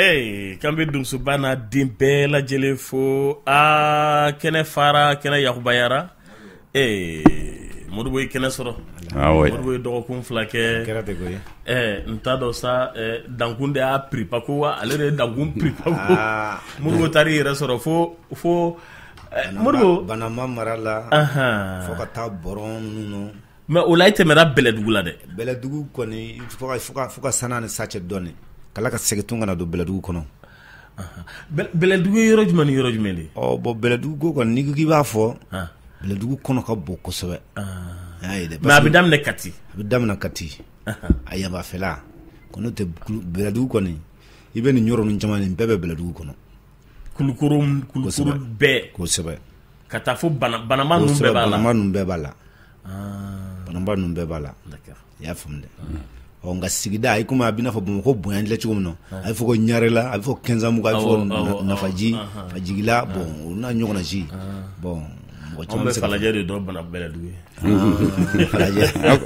Ee k'an bɛ donsoba n'a den bɛɛ lajɛlen fo aa kɛnɛ fara kɛnɛ yakuba jara ee modibo ye kɛnɛ sɔrɔ modibo ye dɔgɔkun fila kɛ n t'a dɔn sa dankun de y'a pp ko wa ale de ye dankun pp modibo taara i yɛrɛ sɔrɔ fo fo Modibo banamba mara la fo ka taa boron ninnu mɛ o la e tɛmɛna bɛlɛdugu la dɛ bɛlɛdugu kɔni fo ka san ni sa cɛ dɔɔnin ka laban ka segin tun ka na don bɛlɛdugu kɔnɔ bɛlɛdugu yɔrɔ jumɛn ni yɔrɔ jumɛn de ɔ bɔn bɛlɛdugu ko kɔni n'i k'i b'a fɔ bɛlɛdugu kɔnɔ ka bon kosɛbɛ mɛ a bɛ daminɛ kati a yanfan fɛla kɔni tɛ bɛlɛdugu kɔni i bɛ nin yɔrɔ ninnu caman bɛɛ bɛ bɛlɛdugu kɔnɔ kulukɔrɔ bɛɛ kosɛbɛ ka taa fo banamba ninnu bɛɛ b'a la banamba ninnu bɛɛ b'a la i y'a faamu dɛ ɔ nka sigida a komi a bɛna fɔ bamakɔ ko bonyayan lɛ cogo min na a bɛ fɔ ko ɲarɛla a bɛ fɔ kɛnzanbugu a bɛ fɔ nafaji fajigila bɔn u n'a ɲɔgɔnna si bɔn falajɛ de don bana bɛlɛdugu ye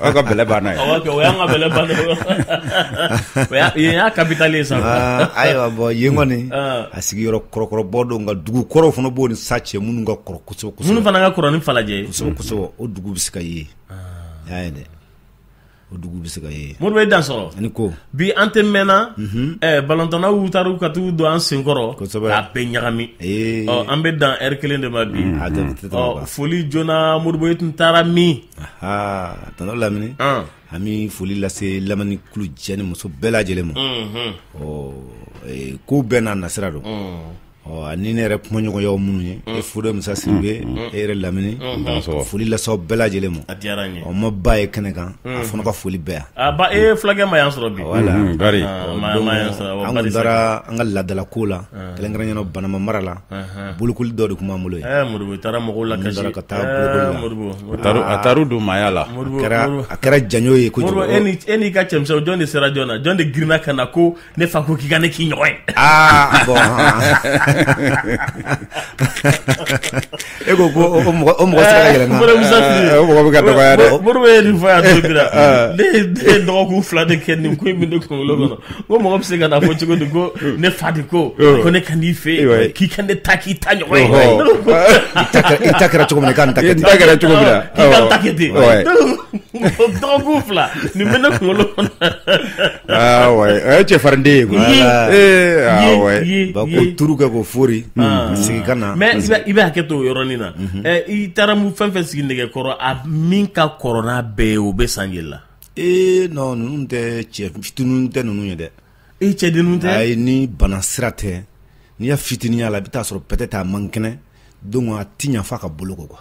aw ka bɛlɛ banna o y'an ka bɛlɛ ban y'a kapitali sa ayiwa bɔ yen kɔni a sigiyɔrɔ kɔrɔkɔrɔba don nka dugu kɔrɔ fana b'o ni sa cɛ minnu ka kɔrɔ kosɛbɛ minnu fana ka kɔrɔ ni falajɛ kosɛbɛ o dugu bɛ se ka ye y'a ye dɛ o dugu bɛ se ka ye modibo i dansɔgɔ ani ko bi an tɛ mɛnna balɔntannaw taara ka taa don an senkɔrɔ a bɛ ɲagami an bɛ dan ɛri kelen de ma bi foli joona modibo i tun taara min aa tɔnɔ lamini an bɛ foli lase lamini kulu cɛ ni muso bɛɛ lajɛlen ma ɔ ko bɛɛ n'a nasira don Ani ne yɛrɛ kumaɲɔgɔn y'aw minnu ye e fu dɔ musa sidibe e yɛrɛ lamini foli lase aw bɛɛ lajɛlen ma ɔ ma ba ye kɛnɛ kan a fana ka foli bɛ ba fulakɛ ma yan sɔrɔ bi an taara an ka laadala ko la kelen kɛra yen banamba mara la bolokoli dɔ de tun b'an bolo la ka taa taari don maaya la a kɛra janjo ye e n'i ka cɛ jɔn de sera joona jɔn de girinna ka na ko ne fa ko k'i ka ne k'i ɲɔgɔn ye aa bɔn e ko ko o mɔgɔ o mɔgɔ sera ka yɛlɛ na o mɔgɔ bɛ ka dɔgɔya dɛ modibo bɛ nin fɔ yan don min na ne ye ne ye dɔgɔkun fila de kɛ nin ko in bɛ ne kunkolo kɔnɔ ko mɔgɔ bɛ se ka na fɔ cogo di ko ne fa de ko ko ne ka n'i fɛ yen k'i ka ne ta k'i ta ɲɔgɔn ye i ta kɛra cogo min na i ka nin ta kɛ ten i ta kɛra cogo min na k'i ka ta kɛ ten dɔgɔkun fila nin bɛ ne kunkolo kɔnɔ Ah o ye cɛfarin den ye koyi ko tuuru kɛ ko fori ah. sigi ka na mais i bɛ hakɛ to o yɔrɔnin na mhm. eh, i taara mu fɛn fɛn sigi nɛgɛ kɔrɔ a min ka kɔrɔ n'a bɛɛ ye o bɛ san jeli la ee non ninnu tɛ cɛ fitinin tɛ ninnu ye dɛ e cɛdennin tɛ a ye ni bana sira tɛ n'i y'a fitininya la i bɛ taa a sɔrɔ peut-être a man kɛnɛ Donc a ti ɲɛ fo k'a boloko quoi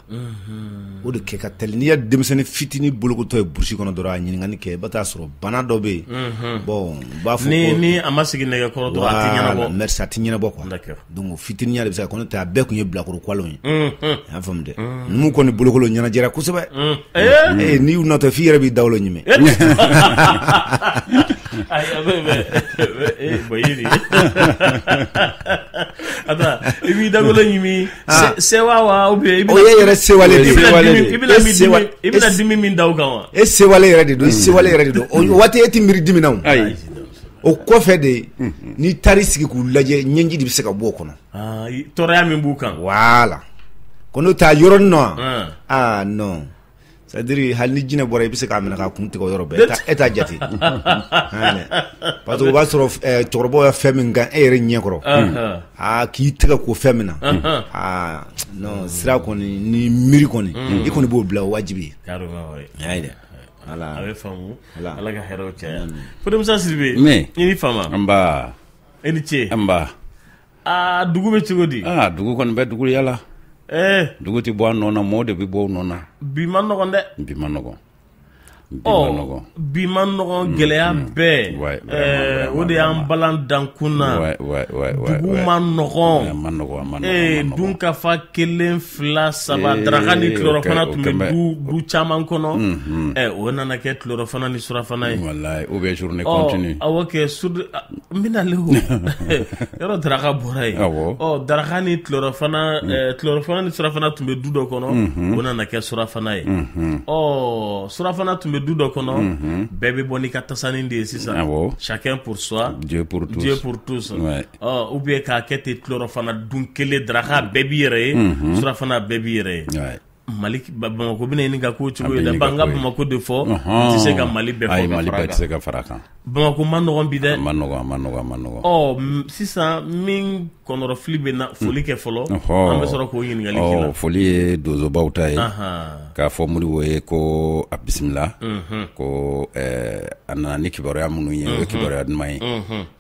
o de kɛ ka teli n'i ye denmisɛnnin fitinin bolokotɔ ye burusi kɔnɔ dɔrɔn a ɲininkali kɛ i bɛ taa a sɔrɔ bana dɔ bɛ yen bon u b'a fɔ ni a ma sigi nɛgɛ kɔrɔ dɔrɔn a tɛ ɲɛnabɔ donc fitininya de bɛ se kɔnɔ tɛ a bɛɛ tun ye bilakorokolo ye y'a faamuya dɛ numu kɔni bolokoli ɲɛnajɛra kosɛbɛ ee n'i y'u natɔ f'i yɛrɛ b'i dawolo ɲimi A i b'i dawolo ɲimi ah. sewa wa o ye yɛrɛ sewalen de i bɛna dimi min da kan wa e sewalen yɛrɛ de don i sewalen yɛrɛ de don o waati e tɛ miiri dimi na o kɔfɛ de ye n'i taara sigi k'u lajɛ ɲɛji de bɛ se ka bɔ o kɔnɔ ah, tɔɔrɔya min b'u kan voilà ko n'o t'a yɔrɔ non aa non C'est-à-dire hali ni jinɛ bɔra i bɛ se k'a minɛ k'a kun tigɛ o yɔrɔ bɛɛ e t'a jate parce que o b'a sɔrɔ cɛkɔrɔbaw ye fɛn min kan e yɛrɛ ɲɛ kɔrɔ aa k'i tɛgɛ ko fɛn min na aa non siran kɔni ni miiri kɔni i kɔni b'o bila o wajibi ye voilà ala ka cɛ kosa Sidibe i ni fama nba i ni ce aa dugu bɛ cogo di aa dugu kɔni bɛ dugu yala ee dugu tɛ bɔ a nɔ na mɔɔ de bɛ bɔ u nɔ na bi man nɔgɔn dɛ bi man nɔgɔn ɔ bi man nɔgɔn mm, gɛlɛya mm. bɛɛ eh, o de y'an balan dankun na dugu man nɔgɔn eh, dun ka fa kelen fila saba eh, daraka ni tilɔrɔfana tun bɛ du caman kɔnɔ mm-hmm. o nana kɛ tilɔrɔfana ni surafana ye o bɛ journée continue awɔ kɛ N bɛna le o yɔrɔ daraka bɔra yen daraka ni tilɔrɔfana ni surafana tun bɛ du dɔ kɔnɔ o nana kɛ surafana ye ɔ surafana tun bɛ du dɔ kɔnɔ bɛɛ bɛ bɔ n'i ka tasannin de ye sisan chacun pour soi Dieu pour tous ou bien k'a kɛ ten tilɔrɔfana dun kelen daraka bɛɛ b'i yɛrɛ ye surafana bɛɛ b'i yɛrɛ ye Mali bamakɔ bɛ ɲini ka k'o cogo la an ka bamakɔ de fɔ n tɛ se ka mali bɛɛ fɔ mali bɛɛ tɛ se ka fara a kan bamakɔ man nɔgɔn bi dɛ man nɔgɔn man nɔgɔn man nɔgɔn sisan min kɔnɔrɔfili bɛ na foli kɛ fɔlɔ an bɛ sɔrɔ k'o ɲininkali kɛ foli ye donsobaw ta ye k'a fɔ Modibo ye ko a bisimila ko a nana ni kibaruya minnu ye o ye kibaruya duman ye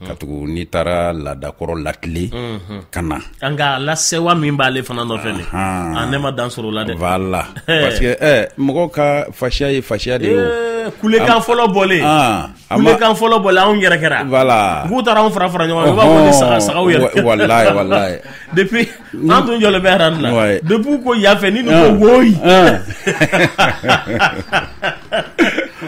katugu n'i taara laadakɔrɔ latilen ka na an ka lasewa min b'ale fana nɔfɛ ne ma dan sɔrɔ o la dɛ voilà parce que mɔgɔ ka fasiya ye fasiya de ye kulekan fɔlɔ bɔlen kulekan fɔlɔ bɔlen anw yɛrɛ kɛra voilà k'u taara anw fara fara ɲɔgɔn kan i b'a fɔ ni saga saga yɛrɛ walayi depuis An tun jɔlen bɛ arajo la depuis ko yafɛ ni ko woyi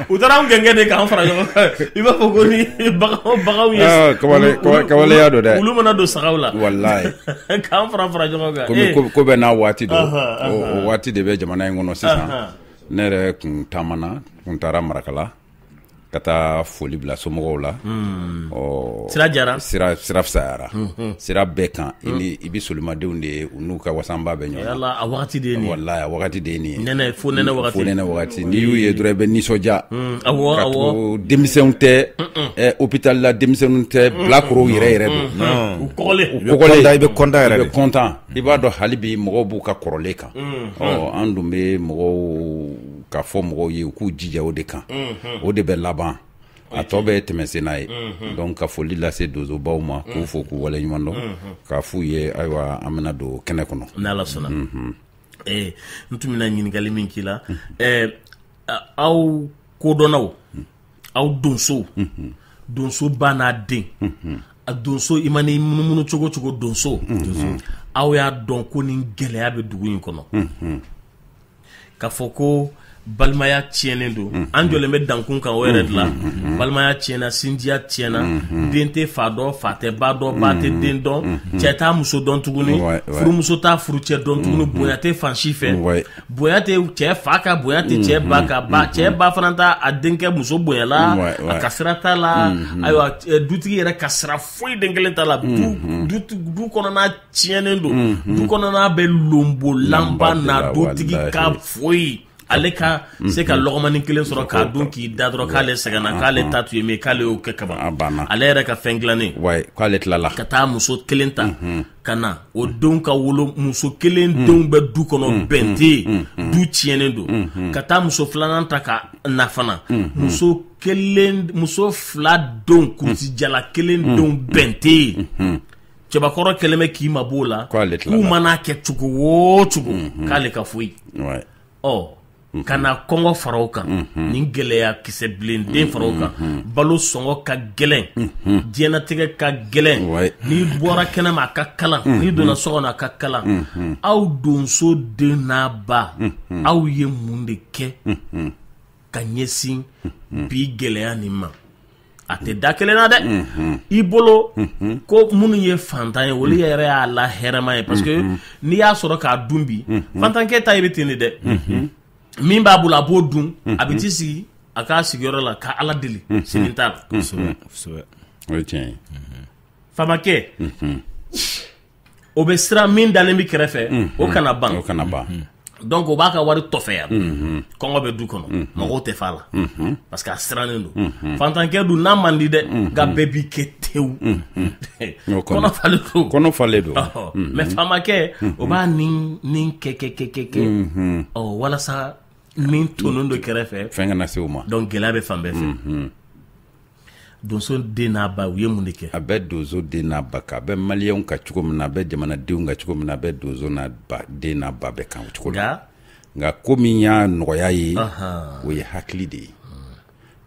u taara anw gɛn de k'an fara ɲɔgɔn kan i b'a fɔ ko ni bagan ka waleya don dɛ olu mana don saga la walayi k'an fara fara ɲɔgɔn kan ko bɛɛ n'a waati don o waati de bɛ jamana in kɔnɔ sisan ne yɛrɛ tun taama na tun taara marakala ka taa foli bila somɔgɔw la hmm. sira jara sira sira fisayara hmm, hmm. sira bɛɛ kan i bɛ solimadenw de ye u n'u ka wasanba bɛ ɲɔgɔn yala a wagati de ye nin ye walayi a wagati de ye nin ye nɛnɛ fo nɛnɛ wagati fo nɛnɛ wagati n'i y'u ye dɔrɔn i bɛ nisɔndiya awɔ awɔ ka to denmisɛnw tɛ eh, hôpital la denmisɛnninw tɛ bilakorow yɛrɛ yɛrɛ don u kɔgɔlen u kɔgɔlen i bɛ kɔntan yɛrɛ de i bɛ kɔntan i b'a dɔn hali bi mɔgɔw b'u ka kɔrɔlen kan ɔ an dun bɛ mɔgɔw k'a fɔ mɔgɔw ye u k'u jija o de kan o de bɛ laban a tɔ bɛ tɛmɛ sen n'a ye donc ka foli lase donsobaw ma k'u fo k'u wale ɲuman dɔn k'a f' u ye ayiwa an bɛna don kɛnɛ kɔnɔ n' ala sɔnna ɛɛ n tun bɛna ɲininkali min k'i la ɛɛ aw kodɔnnaw aw donsow donso ba n'a den a donso i man'i munumunu cogo o cogo donso aw y'a dɔn ko ni gɛlɛya bɛ dugu in kɔnɔ k'a fɔ ko balimaya tiɲɛnen don mm-hmm. an jɔlen bɛ dankun kan o yɛrɛ de la mm-hmm. Mm-hmm. balimaya tiɲɛna sinjiya tiɲɛna den tɛ fa dɔn fa tɛ ba dɔn ba tɛ den dɔn cɛ t'a muso dɔn tuguni furumuso t'a furucɛ dɔn tuguni bonya tɛ fan si fɛ bonya tɛ cɛ fa kan bonya tɛ cɛ ba kan cɛ ba fana t'a a denkɛ muso bonyala a ka sira t'a la ayiwa dutigi yɛrɛ ka sira foyi den kelen t'a la du kɔnɔna tiɲɛnen don du kɔnɔna bɛ lonbolanba na dutigi ka foyi ale ka se ka lɔgɔmani kelen sɔrɔ k'a dun k'i da dɔrɔn k'ale sɛgɛnna k'ale ta tun ye min k'ale y'o kɛ kaban ale yɛrɛ ka fɛn dilannen k'ale tilala ka taa muso kelen ta ka na o denw ka wolo muso kelen denw bɛ du kɔnɔ bɛn tɛ yen du tiɲɛnen don ka taa muso filanan ta ka na fana muso kelen muso fila denw kulusijala kelen denw bɛn tɛ yen cɛbakɔrɔ kɛlen bɛ k'i mabɔ o la k'u man'a kɛ cogo o cogo mhm. k'ale ka foyi ɔ mhm. ka na kɔngɔ fara o kan mhm. ni gɛlɛya kisɛbilen den fara o kan balo sɔngɔ ka gɛlɛn diɲɛnatigɛ ka gɛlɛn n'i bɔra kɛnɛ ma a ka kalan n'i donna so kɔnɔ a ka kalan aw donso den n'a ba aw ye mun de kɛ ka ɲɛsin bi gɛlɛya nin ma a tɛ da kelen na dɛ i bolo ko minnu ye fantan ye olu yɛrɛ y'a la hɛrɛma ye parce que n'i y'a sɔrɔ k'a dun bi fantankɛ ta i bɛ ten de dɛ min b'a bolo a b'o dun a bɛ t'i sigi a ka sigiyɔrɔ la ka ala deli sini ta la famakɛ o bɛ siran min dalen bɛ kɛrɛfɛ o kana ban o kana ban donc o b'a ka wari tɔfɛya kɔngɔ bɛ du kɔnɔ mɔgɔw tɛ fa la parce que a sirannen don fantankɛ dun na man di dɛ nka bɛɛ b'i kɛ tewu falen don mais faamakɛ o b'a ni kɛ kɛ kɛ kɛ kɛ ɔ walasa min tonnen don kɛrɛfɛ fɛn kana se o ma donc gɛlɛya bɛ fan bɛɛ fɛ donso den n'a ba u ye mun de kɛ a bɛ donso den n'a ba kan a bɛ maliyɛnw kan cogo min na a bɛ jamanadenw kan cogo min na a bɛ donso n'a ba den n'a ba bɛɛ kan o cogo la nka ko min y'a nɔgɔya ye o ye hakili de ye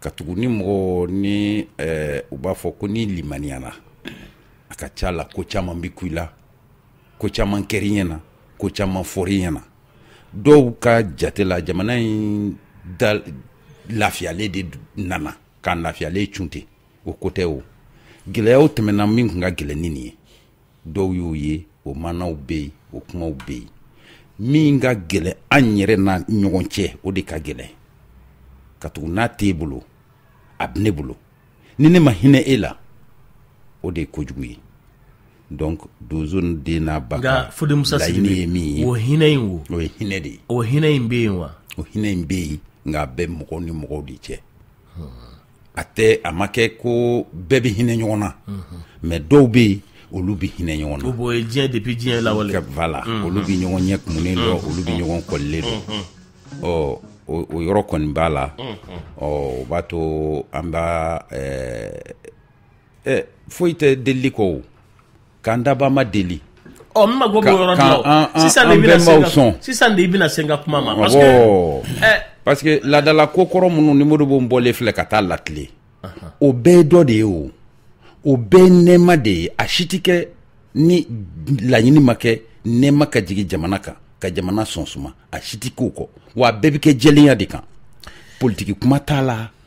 katugu ni mɔgɔ ni eh, u b'a fɔ ko ni limaniyana a ka ca la ko caman bɛ kun i la ko caman kɛr'i ɲɛ na ko caman fɔr'i ɲɛ na dɔw ka jate la jamana in da lafiyalen de nana k'a lafiyalen cun ten o ko tɛ o gɛlɛyaw tɛmɛna min tun ka gɛlɛn ni nin ye dɔw y'o ye o maanaw bɛ yen o kumaw bɛ yen min ka gɛlɛn an yɛrɛ na ɲɔgɔn cɛ o de ka gɛlɛn katugu n'a t'e bolo a bɛ ne bolo ni ne ma hinɛ e la o de ye kojugu ye donc donso den n'a ba nka fo denmuso laɲini ye min ye o hinɛ in wo o ye hinɛ de ye o hinɛ in bɛ yen wa o hinɛ in bɛ yen nka a bɛ mɔgɔw ni mɔgɔw de cɛ a tɛ a ma kɛ ko bɛɛ bɛ hinɛ ɲɔgɔn na mais dɔw bɛ yen olu bɛ hinɛ ɲɔgɔn na o ye diɲɛ depuis diɲɛ lawale voilà olu bɛ ɲɔgɔn ɲɛ kumunen dɔn olu bɛ ɲɔgɔn kɔlilen dɔn ɔ o yɔrɔ kɔni b'a la ɔ o b'a to an b'a ɛ foyi tɛ delili kɔ o k'an dabaa ma deli ɔ n mago b'o yɔrɔ de la o. Ka- an- an- sisan de an i bɛna se bɛnbaw ka- sɔn. sisan de i bɛna se n ka kuma ma parce que Awɔ. ɛ parce que laadala ko kɔrɔ minnu ni modibo bɔlen filɛ ka taa latile o bɛɛ ye dɔ de ye o o bɛɛ ye nɛɛma de ye a si tɛ kɛ ni laɲini ma kɛ nɛɛma ka jigin jamana kan ka jamana sɔn suma a si tɛ k'o kɔ wa a bɛɛ bɛ kɛ jɛlenya de kan politiki kuma t'a la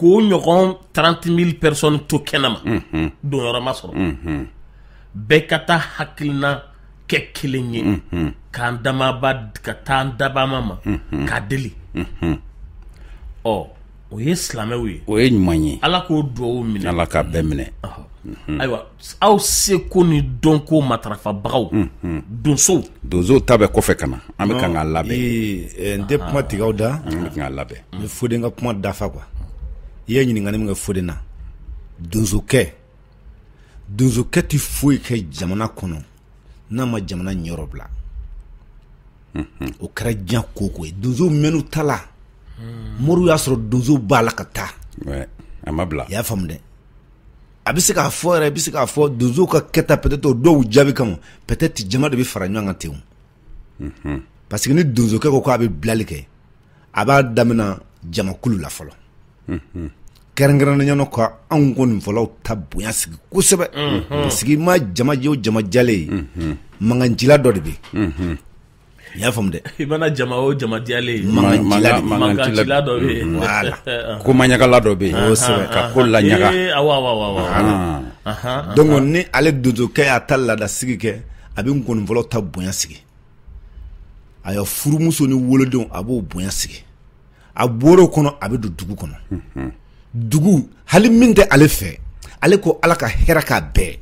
k'o ɲɔgɔn 30 mille personnes to kɛnɛma mhm. donyɔrɔ ma sɔrɔ mhm. bɛɛ ka taa hakilina kɛ kelen ye mhm. k'an damaba ka taa an dabama ma k'a deli ɔ o ye silamɛw ye o ye ɲuman ye ala k'o dugawu minɛ ala k'a bɛɛ minɛ ayiwa aw seko ni dɔnko matarafabagaw donsow donsow ta bɛ kɔfɛ ka na an bɛ kan k'a labɛn n tɛ kuma tigɛ aw da k'a labɛn n bɛ foden ka kuma dafa quoi i ye ɲininkali min kɛ foden na donsokɛ donsokɛ tɛ foyi kɛ jamana kɔnɔ n'a ma jamana ɲɛyɔrɔ bila o kɛra diɲɛ ko ko ye donsow mɛnn'u ta la moriw y'a sɔrɔ donsow b'a la ka taa a ma bila i y'a faamu dɛ a bɛ se k'a fɔ yɛrɛ i bɛ se k'a fɔ donso ka kɛta peut-être o dɔw jaabi kama peut-être jama de bɛ fara ɲɔgɔn kan ten o parce que ni donsokɛ ko k'a bɛ bilali kɛ a b'a damina jamakulu la fɔlɔ kɛrɛnkɛrɛnnenya na ka anw nkɔnifɔlaw ta bonya sigi kosɛbɛ parce que i mana jama o jama diyalen ye mankancila dɔ de bɛ yen i y'a faamu dɛ i mana jama o jama diyalen ye mankancila dɔ bɛ yen voilà ko maɲagala dɔ bɛ yen kosɛbɛ ka ko laɲaga awɔ awɔ awɔ donc ni ale donsokɛ y'a ta laada sigi kɛ a bɛ nkɔnifɔlaw ta bonya sigi a ya furumuso ni wolodenw a b'o bonya sigi a bɔr'o kɔnɔ a bɛ don dugu kɔnɔ dugu hali min tɛ ale fɛ ale ko ala ka hɛrɛ k'a bɛɛ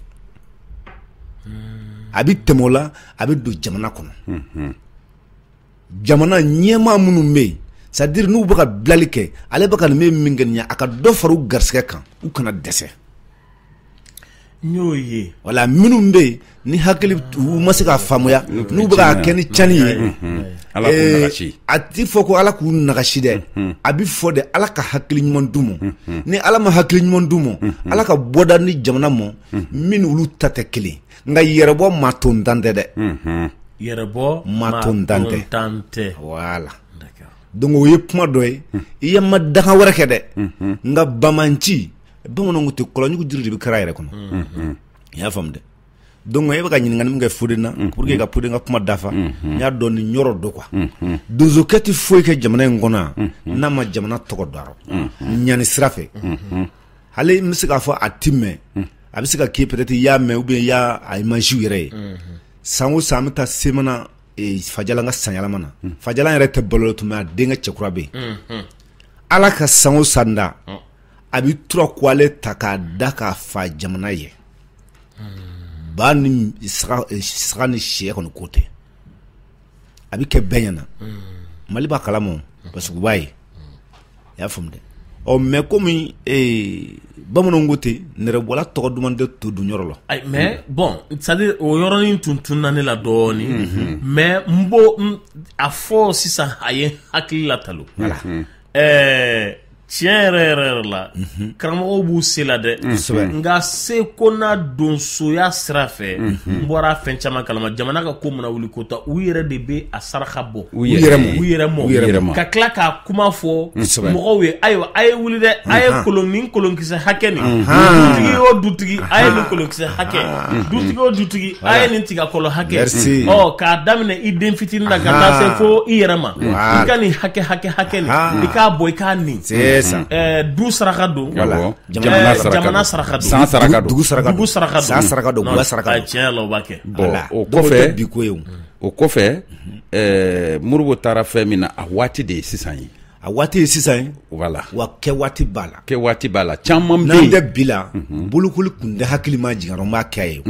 a bɛ tɛmɛ o la a bɛ don jamana kɔnɔ jamana ɲɛmaa minnu bɛ yen c'est-à-dire n'u bɛ ka bilali kɛ ale bɛ ka nin min min kɛ nin ye a ka dɔ fara u garisɛgɛ kan u kana dɛsɛ n y'o ye wala minnu bɛ yen ni hakili u ma se k'a faamuya n'u bɛ k'a kɛ ni cani ye Ala k'u ee, nagasi. a ti fɔ ko ala k'u nagasi dɛ a bi fɔ de ala ka hakili ɲuman d'u ma ni ala ma hakili ɲuman d'u ma ala ka bɔda ni jamana ma min olu ta tɛ kelen nka yɛrɛbɔ maa to n dan tɛ dɛ yɛrɛ bɔ Ma to n dan tɛ. tan tɛ voilà D'accord. donc o ye kuma dɔ ye i ye ma danga wɛrɛ kɛ dɛ nka bamanci bamananw tɛ kɔlɔnjugu jiri de bɛ kari a yɛrɛ kɔnɔ i y'a faamu dɛ donc e bɛ ka ɲininkali min kɛ fode na pour que ka fode ka kuma dafa n y'a dɔn nin yɔrɔ dɔ quoi donsokɛ tɛ foyi kɛ jamana in kɔnɔ yan n'a ma jamana tɔgɔ da ɲani sira fɛ hali n bɛ se k'a fɔ a ti mɛn a bɛ se ka kɛ peut-être i y'a mɛn ou bien i y'a imagew yɛrɛ ye san o san an bɛ taa semana fajala ka sanyɛlɛma na fajala yɛrɛ tɛ balo tugun denkɛ cɛkura bɛ yen ala ka san o san da a bɛ tura kuwalɛ ta k'a da k'a faa jamana ye ba ni saga ni sɛ kɔni ko tɛ a bɛ kɛ bɛɛ ɲɛna mali b'a kalama parce que u b'a ye i y'a faamu dɛ ɔ mais kɔmi bamananw ko ten nɛrɛbɔla tɔgɔ duman tɛ to dun yɔrɔ la mais bon c'est-à-dire o yɔrɔnin tun tununna ne la dɔɔnin mais n bɛ a fɔ sisan a ye hakili latalo Ɛɛ tiɲɛ yɛrɛ yɛrɛ yɛrɛ la karamɔgɔw b'u se la dɛ nka se ko n'a donsoya sira fɛ n bɔra fɛn caman kalama jamana ka ko mana wuli kota u yɛrɛ de bɛ a saraka bɔ u yɛrɛ ma ka tila k'a kuma fɔ mɔgɔw ye ayiwa a ye wuli dɛ a ye kolon ni kolonkisɛ hakɛ nin dutigi o dutigi a ye nin kolonkisɛ hakɛ dutigi o dutigi a ye nin tigakolo hakɛ k'a daminɛ i den fitinin na ka taa se fo i yɛrɛ ma i ka nin hakɛ hakɛ hakɛ nin i k'a bɔ i k'a nin du saraka don jamana saraka san saraka dugu saraka dugu saraka san saraka don gwa saraka tiɲɛ la o b'a kɛ o kɔfɛ bi ko ye o kɔfɛ Modibo taara fɛn min na a waati de ye sisan ye A waati ye sisan ye voilà wa kɛ waati b'a la kɛ waati b'a la caman min tɛ bi la bolokoli kun tɛ hakili ma jigin n b'a kɛ a ye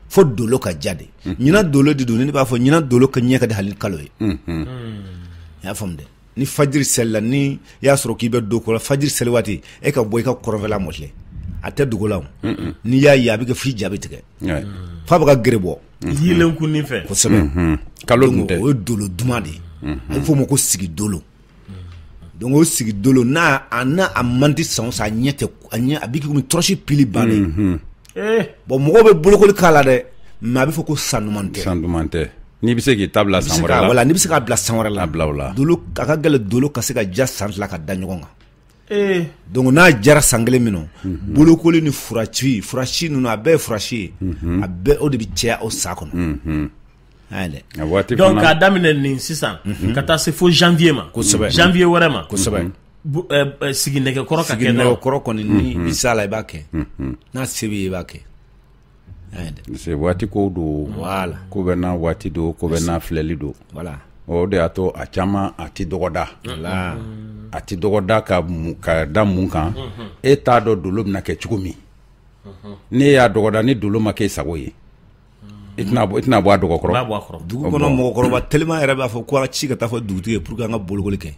fo dolo ka ja de ɲinan dolo de don ne b'a fɔ ɲinan dolo ka ɲɛ ka di hali kalo ye i y'a faamu dɛ ni fajiri selila ni y'a sɔrɔ k'i bɛ don kɔ fajiri seli waati e ka bɔ i ka kɔrɔnfɛla mafilɛ a tɛ dogo i la n'i y'a ye a bɛ kɛ f'i ja bɛ tigɛ f'a bɛ ka gere bɔ yeelen kun fɛ kosɛbɛ kalo o ye dolo duman de ye a bɛ f'o ma ko sigi dolo donc o sigi dolo n'a man di san o san a ɲɛ a bɛ kɛ komi tɔrɔsi pili bannen bon mɔgɔ bɛ bolokoli k'a la dɛ mais a bɛ fɔ ko san duman tɛ n'i bɛ se k'i ta bila san wɛrɛ la n'i bɛ se k'a bila san wɛrɛ la bila la a ka gɛlɛn dolo ka se ka ja san fila ka da ɲɔgɔn kan donc n'a jara san kelen min na bolokoli ni furaci furasi ninnu a bɛɛ ye furasi ye a bɛɛ o de bɛ caya o san kɔnɔ dɛ donc k'a daminɛ nin sisan ka taa se fo janvier ma kosɛbɛ janvier wɛrɛ ma kosɛbɛ sigi nɛgɛkɔrɔ ka kɛ nɛgɛkɔrɔ kɔni n'i bɛ s'a la i b'a kɛ n'a se b'i ye i b'a kɛ parce waati ko don ko bɛ n'a waati don ko bɛ n'a filɛli don o de y'a to a caman a tɛ dɔgɔda a tɛ dɔgɔda ka ka da mun kan e t'a dɔn dolo bɛna kɛ cogo min n'i y'a dɔgɔda ni dolo ma kɛ sago ye i tɛna bɔ a dɔgɔkɔrɔ dugu kɔnɔ mɔgɔkɔrɔba teliman yɛrɛ b'a fɔ k'a ci ka taa fɔ dugutigi ye pour an ka bolokoli kɛ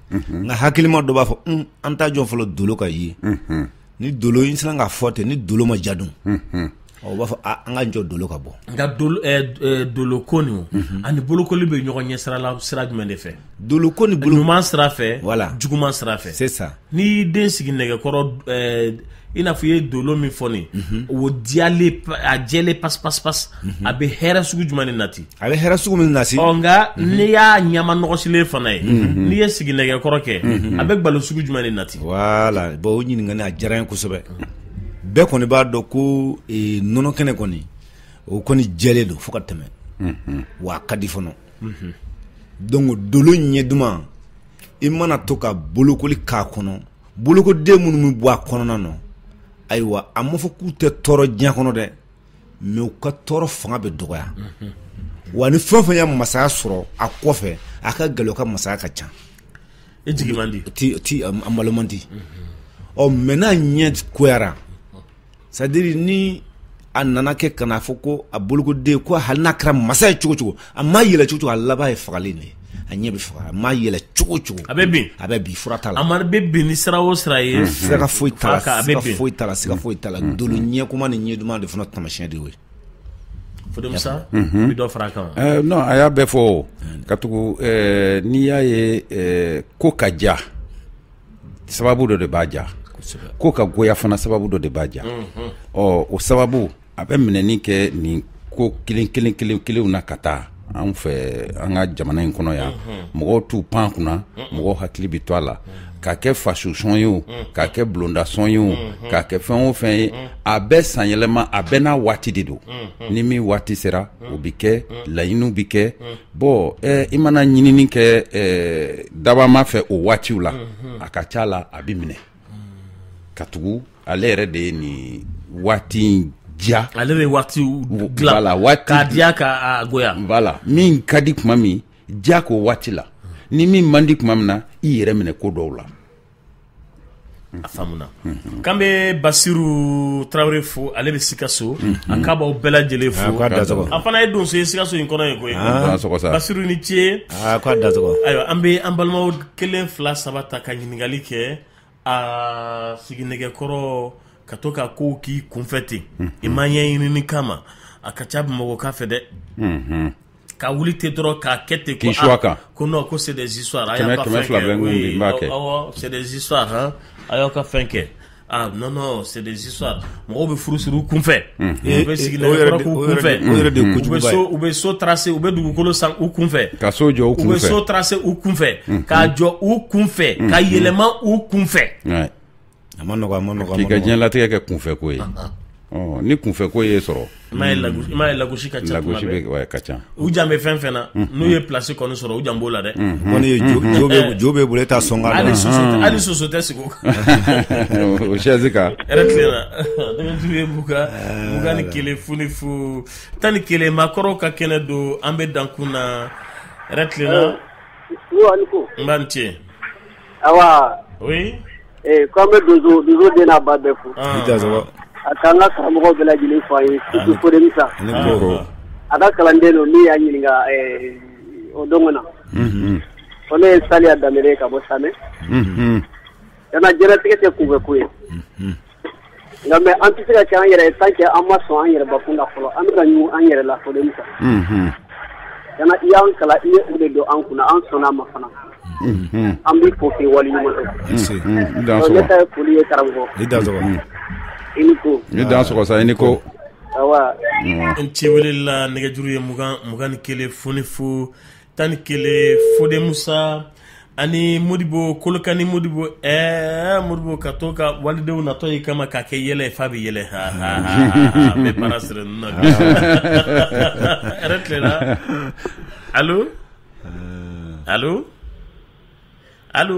nka hakilima dɔ b'a fɔ an tɛ jɔ fɔlɔ dolo ka ye ni dolo in sera ka fɔ ten ni dolo ma ja dun o b'a fɔ an ka jɔ dolo ka bɔ nka dolo ko nin ani bolokoli bɛ ɲɔgɔn ye sira la sira jumɛn de fɛ dolo ko nin ɲuman sira fɛ wala juguman sira fɛ sisan n'i y'i den sigi nɛgɛkɔrɔ i n'a fɔ i ye dolo min fɔ nin o diyalen a jɛlen pas pas pas a bɛ hɛrɛ sugu jumɛn ni nati A bɛ hɛrɛ sugu min nase nka n'i y'a ɲɛma nɔgɔsilen fana ye n'i ye siginɛgɛkɔrɔ kɛ a bɛ gbalo sugu jumɛn de nati voilà bon o ɲininkali a diyara n ye kosɛbɛ bɛɛ kɔni b'a dɔn ko nɔnɔ kɛnɛ kɔni o kɔni jɛlen don fo ka tɛmɛ wa a ka di fana donc dolo ɲɛ duman i mana to ka bolokoli k'a kɔnɔ bolokoden minnu bɛ bɔ a kɔnɔna na ayiwa a ma fɔ k'u tɛ tɔɔrɔ diɲɛ kɔnɔ dɛ mais u ka tɔɔrɔ fanga bɛ dɔgɔya wa ni fɛn o fɛn ye masaya sɔrɔ a kɔfɛ a ka gɛlɛn o ka masaya ka ca e jigi man di a balo man di ɔ mais n'a ɲɛ goyara c'est-à-dire ni a nana kɛ kana fɔ ko a bolokoden ko hali n'a kɛra masa ye cogo cogo a ma yɛlɛ cogo cogo a laban ye fagali de ye a ɲɛ bɛ faga a ma yɛlɛ cogo cogo a bɛ bin a bɛ bin fura t'a la amadu bɛ bin ni sira o sira ye sira foyi t'a la sira foyi t'a la sira foyi t'a la dolo ɲɛ goman ni ɲɛ duman de fana taamasiyɛn de y'o ye Fode Musa mhm. bɛ dɔ fara a kan wa eh, non a y'a bɛɛ fɔ katugu eh, n'i y'a ye eh, ko ka diya sababu dɔ de b'a ja ko ka goya fana sababu dɔ de b'a ja mhm. ɔ o sababu a bɛ minɛni kɛ nin ko kelen kelen kelen kelenw na ka taa an fɛ an ka jamana in kɔnɔ yan mɔgɔw t'u pan kunna mɔgɔw hakili bɛ to a la k'a kɛ fasosɔn ye o k'a kɛ bulondasɔn ye o k'a kɛ fɛn o fɛn ye a bɛɛ sanyɛlɛma a bɛɛ n'a waati de don ni min waati sera o bɛ kɛ laɲiniw bɛ kɛ bon eh, i mana ɲinini kɛ eh, dabaa ma fɛ o waatiw la a ka ca la a bɛ minɛ katugu ale yɛrɛ de ye nin waati in diya ale bɛ waati dilan la waati k'a diya k'a goya voilà min ka di tuma min diya k'o waati la ni min man di tuma min na i yɛrɛ minɛ ko dɔw la a faamuna mhm. k'an bɛ basiru tarawele fo ale bɛ sikaso mhm. a k'a b'aw bɛɛ lajɛlen fo a fana ye donso ye sikaso in kɔnɔ yen koyi ah. basiru ni ce ah, ayiwa an bɛ an balimaw kelen fila saba ta ka ɲininkali kɛ a siginɛgɛkɔrɔ ka to ka kow k'i kunfɛ ten i ma ɲɛɲinini k'a ma a ka ca bamakɔkaw fɛ dɛ ka wuli ten dɔrɔn k'a kɛ ten ko ah, kan ko non ko c'est des histoires a y'aw ka fɛn kɛ oui awɔ c'est des histoires a y'aw ka fɛn kɛ Ah non non c'est des histoires mɔgɔw bɛ furu siri u kunfɛ u bɛ siginɛgɛkɔrɔ k'u kunfɛ o yɛrɛ de ye kojuguba ye u bɛ so tracer u bɛ dugukolo san u kunfɛ ka so jɔ u kunfɛ u bɛ so tracer u kunfɛ k'a jɔ u kunfɛ ka yɛlɛma u kunfɛ a man nɔgɔ a man nɔgɔ k'i ka diɲɛlatigɛ kɛ kunfɛ ko ye. ni kunfɛ ko ye sɔrɔ i m'a ye lagosi ka ca ka ca u jan bɛ fɛn fɛn na n'u ye place kɔni sɔrɔ u jan b'o la dɛ ko jo bɛ bolo taa sɔn hali hali soso tɛ sigi o chaise kan yɛrɛ mugan ni kelen fu ni fu tan ni kelen maakɔrɔ ka kɛnɛ don an bɛ dankun na yɛrɛ tilenna n' ni ce Ayiwa ee k'an bɛ donso donso den n'a ba bɛɛ fo a k'an ka karamɔgɔ bɛɛ lajɛlen fo a ye surtout Fode Musa a ka kalanden don min y'a ɲininka ɛɛ o don kana ko ne ye Saliya Danbele ye ka bɔ Samɛ kana diɲɛlatigɛ tɛ kunfɛ ko ye. Nka mais an tɛ se ka kɛ an yɛrɛ ye tant que an ma sɔn an yɛrɛ bakun na fɔlɔ, an bɛ ka ɲugun an yɛrɛ la fɔlɔ quoi. Unhun. Kana i y'an kalan i ye o de don an kun na, an sɔnna a ma fana. Unhun. An b'i fo k'i waleɲuman dɔn. I Nse. Unhun. I dansɔgɔ. Donc, ne ta ye foli ye karamɔgɔ. I dansɔgɔ. Unhun. I ni ko. I dansɔgɔ sa, i ni ko. Awa. N ci wele la nɛgɛjuru ye mugan mugan ni kelen fu ni fu tan ni kelen fode musa ani modibo kolokani modibo ɛɛ modibo ka to ka walidenw natɔ y'i kama k'a kɛ yɛlɛ ye f'a bɛ yɛlɛ ha ha ha n bɛ baara sira ninnu na yɛrɛ tilenna alo alo alo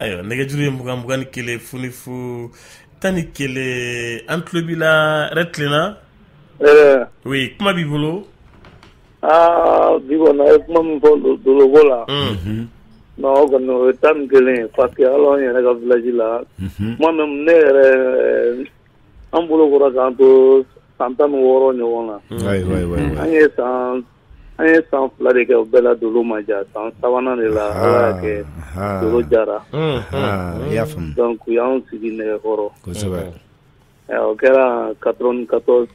ayiwa nɛgɛjuru ye mugan mugan ni kelen fu ni fu tan ni kelen an tulo b'i la yɛrɛ tilenna oui kuma b'i bolo aa bi kɔni a ye kuma min fɔ dolobɔ la non o kɔni o ye tan ni kelen ye parce que hali an yɛrɛ ka village la kuma min ne yɛrɛ an bolokora k'an to san tan ni wɔɔrɔ ɲɔgɔn na an ye san An ye san fila de kɛ o bɛɛ la dolo ma ja san sabanan de la Ala y'a kɛ dolo jara i y'a faamu donc u y'an sigi nɛgɛkɔrɔ o kɛra quatre-vingt-quatorze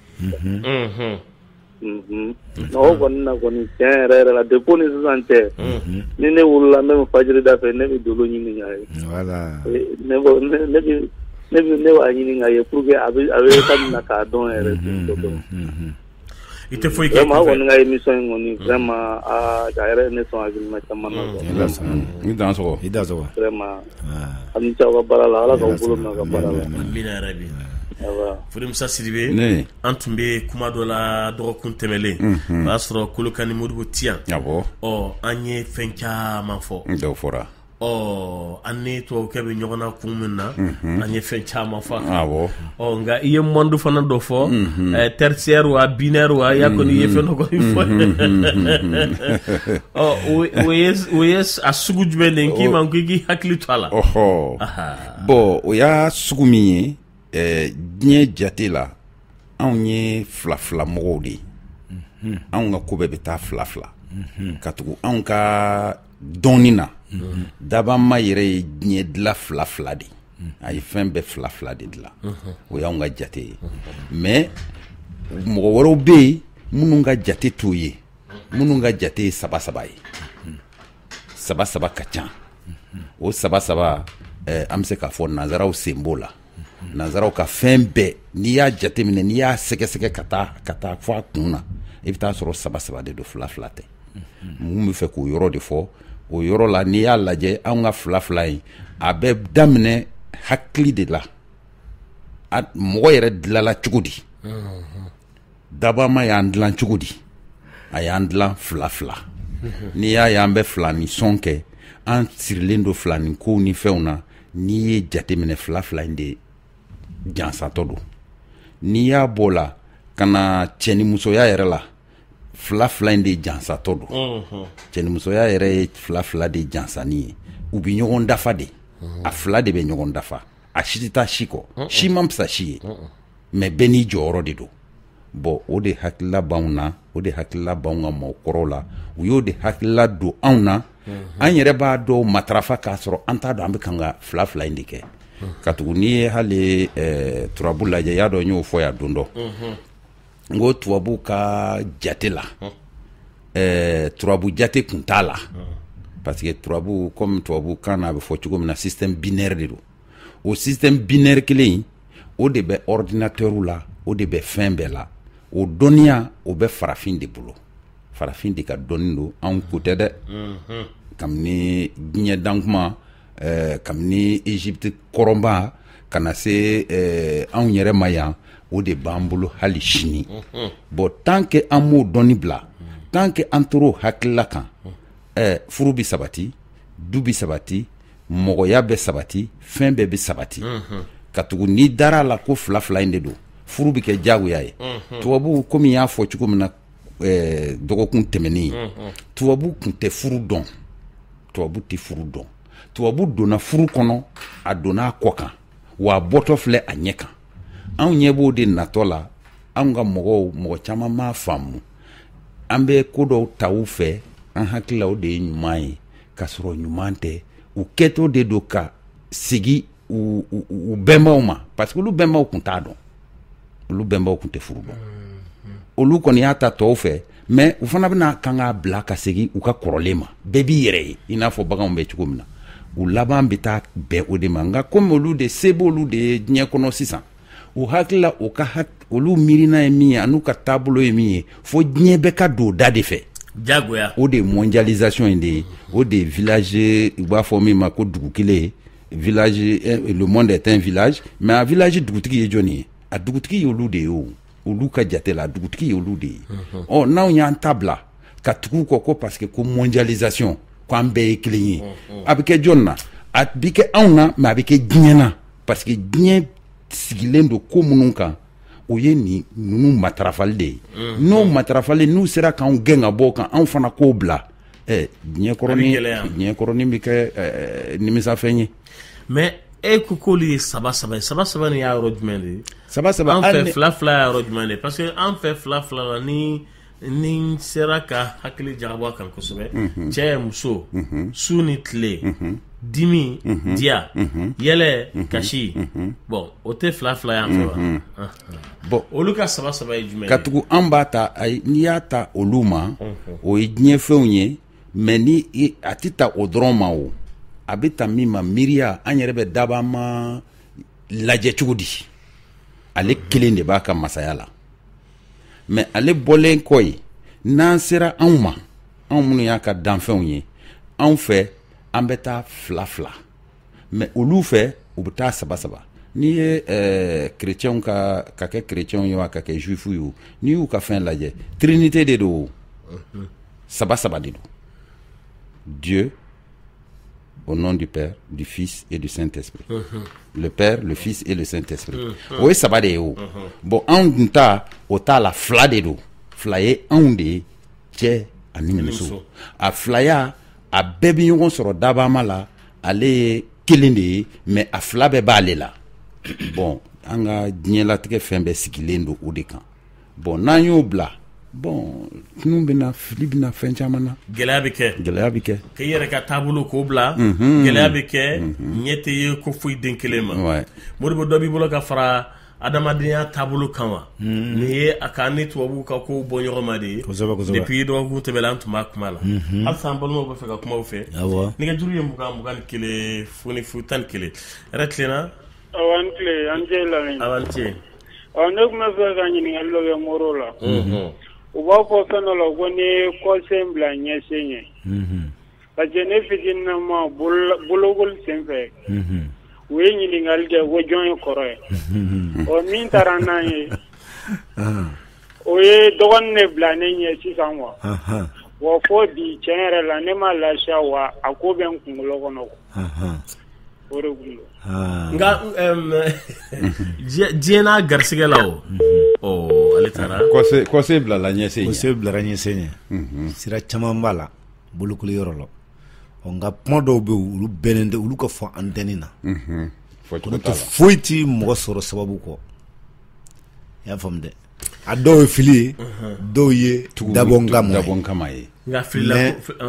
o kɔni na kɔni tiɲɛ yɛrɛ yɛrɛ la depuis o ni sisan cɛ ni ne wulila ne bɛ fajiri da fɛ ne bɛ dolo ɲini k'a ye ne b'a ɲini k'a ye pour que a bɛ ka na k'a dɔn yɛrɛ I tɛ foyi kɛ maa kɔni ka émission in kɔni vraiment aa a yɛrɛ ye ne sɔn hakilina caman na quoi i Dansɔgɔ i Dansɔgɔ i Dansɔgɔ vraiment aw ni ce aw ka baara la Ala k'aw bolo mɛn aw ka baara la amina yarabi Fode Musa Sidibe ne an tun bɛ kuma dɔ la dɔgɔkun tɛmɛlen o y'a sɔrɔ Kolokani Modibo tɛ yan awɔ ɔ an ye fɛn caman fɔ dɔ fɔra an ni tubabukɛ bɛ ɲɔgɔn na kun min na an ye fɛn caman fɔ nka i ye monde fana dɔ fɔ tertiaire wa binaire wa i y'a kɔni i ye fɛn dɔ fɔ o ye a sugu jumɛn de k'i ma ko i k'i hakili to a la bon o y'a sugu min ye diɲɛ jate la anw ye fila fila mɔgɔw de ye anw ka ko bɛɛ bɛ taa fila fila katugu anw ka dɔnni na dabama yɛrɛ ye diɲɛ dila fila fila de a ye fɛn bɛɛ fila fila de dila o y'anw ka jate ye mais mɔgɔ wɛrɛw bɛ yen minnu ka jate t'o ye minnu ka jate ye saba saba ye saba saba ka ca o saba saba eh, an bɛ se k'a fɔ nanzaraw sen b'o la nanzaraw ka fɛn bɛɛ n'i y'a jateminɛ n'i y'a sɛgɛsɛgɛ ka taa ka taa fɔ a kun na i bɛ t'a sɔrɔ saba saba de don fila fila tɛ mhm. n b'a fɛ k'o yɔrɔ de fɔ o yɔrɔ la n'i y'a lajɛ anw ka fila fila in a bɛ daminɛ hakili de la mɔgɔ yɛrɛ dilala cogo di dabama y'an dila cogo di a y'an dila fila fila n'i y'a y'an bɛ filani sɔn kɛ an sirilen don filani kow ni fɛnw na n'i ye jateminɛ fila fila in de jansatɔ don n'i y'a b'o la ka na cɛnimusoya yɛrɛ la fila fila in de jansatɔ don mhm. cɛnimusoya yɛrɛ ye fila fila de jansanni ye u bɛ ɲɔgɔn dafa de mhm. a fila de bɛ ɲɔgɔn dafa a si tɛ taa si kɔ mhm. si man fisa si ye mais bɛɛ n'i jɔyɔrɔ de don bon o de hakilila b'anw na o de hakilila b'anw ka mɔgɔkɔrɔw la u y'o de hakilila don anw na an yɛrɛ b'a dɔw matarafa k'a sɔrɔ an t'a dɔn an bɛ kan ka fila fila in de kɛ katugu n'i ye hali eh, turabu lajɛ y'a dɔn n y'o fɔ yan don dɔ n ko tubabu ka jate la ɛɛ turabu jate kun t'a la parce que turabu comme tubabu kan na a bɛ fɔ cogo min na système binaire de don o système binaire kelen in o de bɛ ordinateur la o de bɛ fɛn bɛɛ la o dɔnniya o bɛ farafin de bolo farafin de ka dɔnni don anw ko tɛ dɛ kabini diɲɛ dan kuma ɛɛ kabini egypte kɔrɔba ka na se ɛɛ anw yɛrɛ ma yan o de b'an bolo hali sini mhm. bon tant que an m'o dɔnni bila tant que an tor'o hakilila kan ɛɛ furu bɛ sabati du bɛ sabati mɔgɔya bɛ sabati fɛn bɛɛ bɛ sabati mhm. katugu n'i dara a la ko fila fila in de don furu bɛ kɛ diyagoya ye mhm. tubabuw komi y'a fɔ cogo min na dɔgɔkun tɛmɛnen tubabu tun tɛ furu dɔn tubabu tɛ furu dɔn tubabu donna furu kɔnɔ a donna a kɔ kan wa a bɔtɔ filɛ a ɲɛ kan anw ɲɛ b'o de natɔ la anw ka mɔgɔw mɔgɔ caman m'a faamu an bɛ ko dɔw ta u fɛ an hakilila o de ye ɲuman ye k'a sɔrɔ ɲuman tɛ u kɛtɔ de don ka segin u bɛnbaw ma parce que olu bɛnbaw tun t'a dɔn olu bɛnbaw tun tɛ furu dɔn olu kɔni y'a ta tɔw fɛ mais u fana bɛna kan k'a bila ka segin u ka kɔrɔlen ma bɛɛ b'i yɛrɛ ye i n'a fɔ baganw bɛ cogo min na u laban bɛ taa bɛn o de ma nka komi olu de se b'olu de ye diɲɛ kɔnɔ sisan u hakilila u ka olu miirina ye min ye an'u ka taabolo ye min ye fo diɲɛ bɛɛ ka don o da de fɛ jagoya o de ye mondialisation in de ye o de ye village u b'a fɔ min ma ko dugu kelen ye village eh, le monde est un village mais a village dugutigi ye jɔni ye a dugutigi y'olu de ye o olu ka jate la a dugutigi y'olu de ye mhm. ɔ n'anw y'an ta bila ka tugu u kɔ ko parce que ko mondialisation ko an bɛɛ ye kelen ye mhm. a bɛ kɛ jɔni na a bɛ kɛ anw na mais a bɛ kɛ diɲɛ na parce que diɲɛ sigilen don ko minnu kan o ye nin ninnu matarafali de ye mhm. n'o matarafali n'u sera k'anw gɛn ka bɔ o kan anw fana k'o bila ɛ diɲɛ kɔrɔnin bɛ kɛ nimisafɛn ye mais e ko k'olu ye saba saba ye saba saba nin y'a yɔrɔ jumɛn de ye saba saba an fɛ fila fila y'a yɔrɔ jumɛn de ye parce que an fɛ fila fila la ni n'i sera ka hakili jagabɔ a kan kosɛbɛ mhm. cɛ muso mhm. su ni tile mhm. dimi diya yɛlɛ kasi bon o tɛ fila fila y'an fɛ wa bon olu ka saba saba ye jumɛn katugu an b'a ta ayi n'i y'a ta olu ma o ye diɲɛ fɛnw ye mais ni a tɛ ta o dɔrɔn ma o a bɛ ta min ma miiriya an yɛrɛ bɛ dabaama lajɛ cogo di ale kelen de b'a ka masaya la mais ale bɔlen kɔ yen n'an sera anw ma anw minnu y'a ka danfɛnw ye anw fɛ an bɛ taa fila fila mais olu fɛ u bɛ taa saba saba n'i ye eh, kerecɛnw ka ka kɛ kerecɛnw ye wa ka kɛ juifu ye n'i y'u ka fɛn lajɛ trinité de don saba saba de don dieu au nom du père du fils et du saint esprit le père le fils et le saint esprit o ye saba de ye o bon anw dun ta o t'a la fila de don fila ye anw de ye cɛ ani muso a filaya a bɛɛ bɛ ɲɔgɔn sɔrɔ dabaama la ale ye kelen de ye mais a fila bɛɛ b'ale la bon an ka diɲɛlatigɛ fɛn bɛɛ sigilen don o de kan bon n'an y'o bila bon tunun bɛ na fili bɛ na fɛn caman na gɛlɛya bɛ kɛ gɛlɛya bɛ kɛ k'i yɛrɛ ka taabolo k'o bila mhm. gɛlɛya bɛ kɛ mhm. ɲɛ tɛ ye ko foyi den kelen ma modibo dɔ b'i bolo ka fara adamadenya taabolo kan wa hmm. nin ye a ka ni tubabuw ka kow bɔ ɲɔgɔnma de ye depuis dɔgɔkun tɛmɛla an tun b'a kuma la hmm. halisa an balimaw bɛ fɛ ka kuma u fɛ nɛgɛjuru ye mugan mugan ni kelen fu ni fu tan ni kelen yɛrɛ tilenna aw ni tile an tɛ lamɛn awa an tɛ ɔ ne tun bɛ fɛ ka ɲininkali dɔ kɛ moro la hmm. u b'a fɔ fɛn dɔ la ko nin ye kɔsen bila ɲɛsen ye parce que ne fitininama bolokoli senfɛ u ye ɲininkali kɛ ko jɔn ye kɔrɔ ye ɔ min taara n'an ye o ye dɔgɔnin ne bila ne ɲɛ sisan wa wa fo bi tiɲɛ yɛrɛ la ne ma lafiya wa a ko bɛ n kunkolo kɔnɔ o de kun nka diɲɛ n'a garisɛgɛ la o ale taara kɔsen bilala ɲɛsen kɔsen bilara ɲɛsen ye sira caman b'a la bolokoli yɔrɔ la nka kuma dɔw bɛ olu bɛnnen tɛ olu ka fɔ antɛni na n'o tɛ foyi tɛ mɔgɔ sɔrɔ sababu kɔ i y'a faamu dɛ a dɔw ye fili ye dɔw ye dabɔ kama ye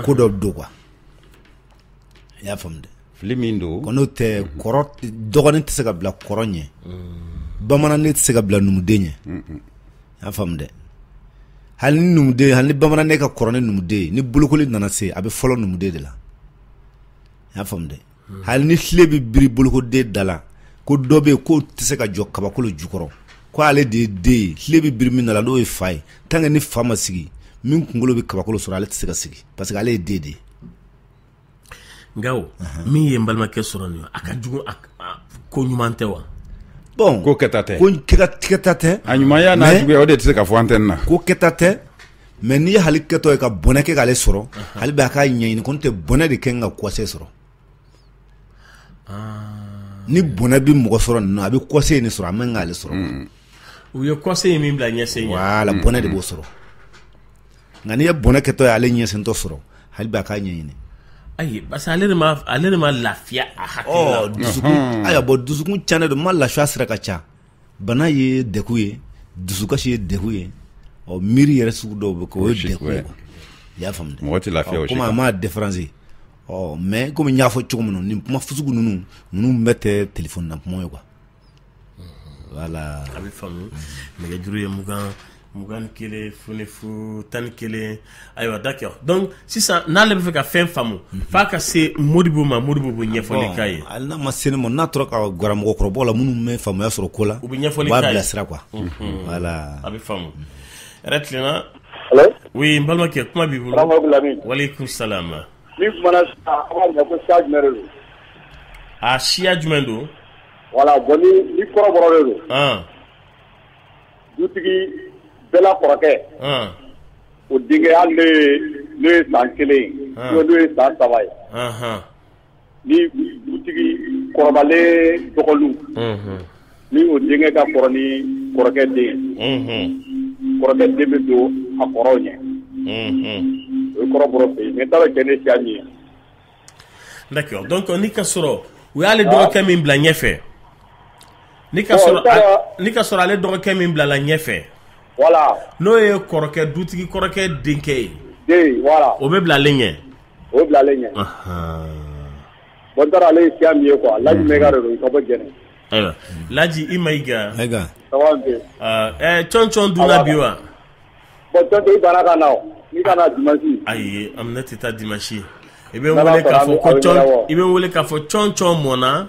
ko dɔ don quoi i y'a faamu dɛ fili min don ko n'o tɛ kɔrɔ dɔgɔnin tɛ se ka bila kɔrɔ ɲɛ bamananden tɛ se ka bila numuden ɲɛ y'a faamu dɛ hali ni numuden hali ni bamananden ka kɔrɔ ni numuden ye ni bolokoli nana se a bɛ fɔlɔ numuden de la y'a faamu dɛ hali ni filen bɛ biri bolokoden da la ko dɔ bɛ yen k'o tɛ se ka jɔ kabakolo jukɔrɔ ko ale de ye den ye filen bɛ biri min da la n'o ye fa ye tant que ni fa ma sigi min kunkolo bɛ kabakolo sɔrɔ ale tɛ se ka sigi parce que ale ye den de ye nka o min ye n balimakɛ sɔrɔ nin ye a ka jugu a a- ko ɲuman tɛ wa bon ko kɛta tɛ ko kɛta tɛ a ɲumanya n'a juguya o de tɛ se ka fɔ antɛni na ko kɛta tɛ mais n'i ye hali kɛtɔ ye ka bɔnɛ kɛ k'ale sɔrɔ hali bɛ a k'a ɲɛɲini ko n tɛ bɔnɛ de kɛ n ka kɔsen sɔrɔ ni bɔnɛ bɛ mɔgɔ sɔrɔ nin na a bɛ kɔsen in sɔrɔ a man k'ale sɔrɔ u ye kɔsen in min bila ɲɛsen ɲɛ wala bɔnɛ de b'o sɔrɔ nka n'i ye bɔnɛ kɛtɔ ye ale ɲɛsentɔ sɔrɔ hali b'a k'a ɲɛɲini ayi parce que ale de ma ale de ma lafiya a hakili oh, la dusukun hmm. ayiwa bon dusukun cannen don ma lafiya sira ka ca bana ye degun ye dusukasi ye degun ye ɔ oh, miiri yɛrɛ sugu dɔw bɛ kɛ o ye degun ye i y'a faamu mɔgɔ tɛ lafiya o si comme a ma différence ɔ mais comme n y'a fɔ cogo min na nin kuma fu sugu ninnu ninnu bɛɛ tɛ telefɔni na kuma ye quoi voilà a bɛ faamu nɛgɛjuru ye mugan mugan ni kelen fu ni fu tan ni kelen ayiwa d'accord donc sisan n'ale bɛ fɛ ka fɛn faamu f'a ka se Modibo ma Modibo bɛ ɲɛfɔli k'a ye n'a ma se ne ma n'a tora ka gara mɔgɔkɔrɔbaw la minnu bɛ faamuya sɔrɔ ko la u bɛ ɲɛfɔli k'a ye k'a bilasira quoi voilà a bɛ faamu yɛrɛ tilenna allo oui n balimakɛ kuma b'i bolo waleykum salam Ni kumana ko siya jumɛn de don a siya jumɛn don voilà bon ni kɔrɔbɔrɔ de don dutigi bɛɛ la kɔrɔkɛ o denkɛ hali n'o ye san kelen ye n'o ye san saba ye ni dutigi kɔrɔbalen dɔgɔninw ni o denkɛ ka kɔrɔ ni kɔrɔkɛ den kɔrɔkɛ den bɛ don a kɔrɔw ɲɛ o ye kɔrɔbɔrɔ fɛ yen mais taara kɛ ne siya min ye d'accord donc n'i ka sɔrɔ u y'ale dɔgɔkɛ min bila ɲɛfɛ ni ka sɔrɔ ale dɔgɔkɛ min bilala ɲɛfɛ voilà n'o ye kɔrɔkɛ dutigi kɔrɔkɛ denkɛ ye o bɛ bila ale ɲɛ o bila ale ɲɛ bon taara ale ye siya min ye quoi laji mayiga de don ka bɔ jɛnɛ ayiwa laji i mayiga cɔncɔn dunna bi wa bon cɔncɔn i banna ka na o i ka na dimasi ayi an ne tɛ taa dimasi i bɛ n wele k'a fɔ i bɛ n wele k'a fɔ cɔncɔn mɔnna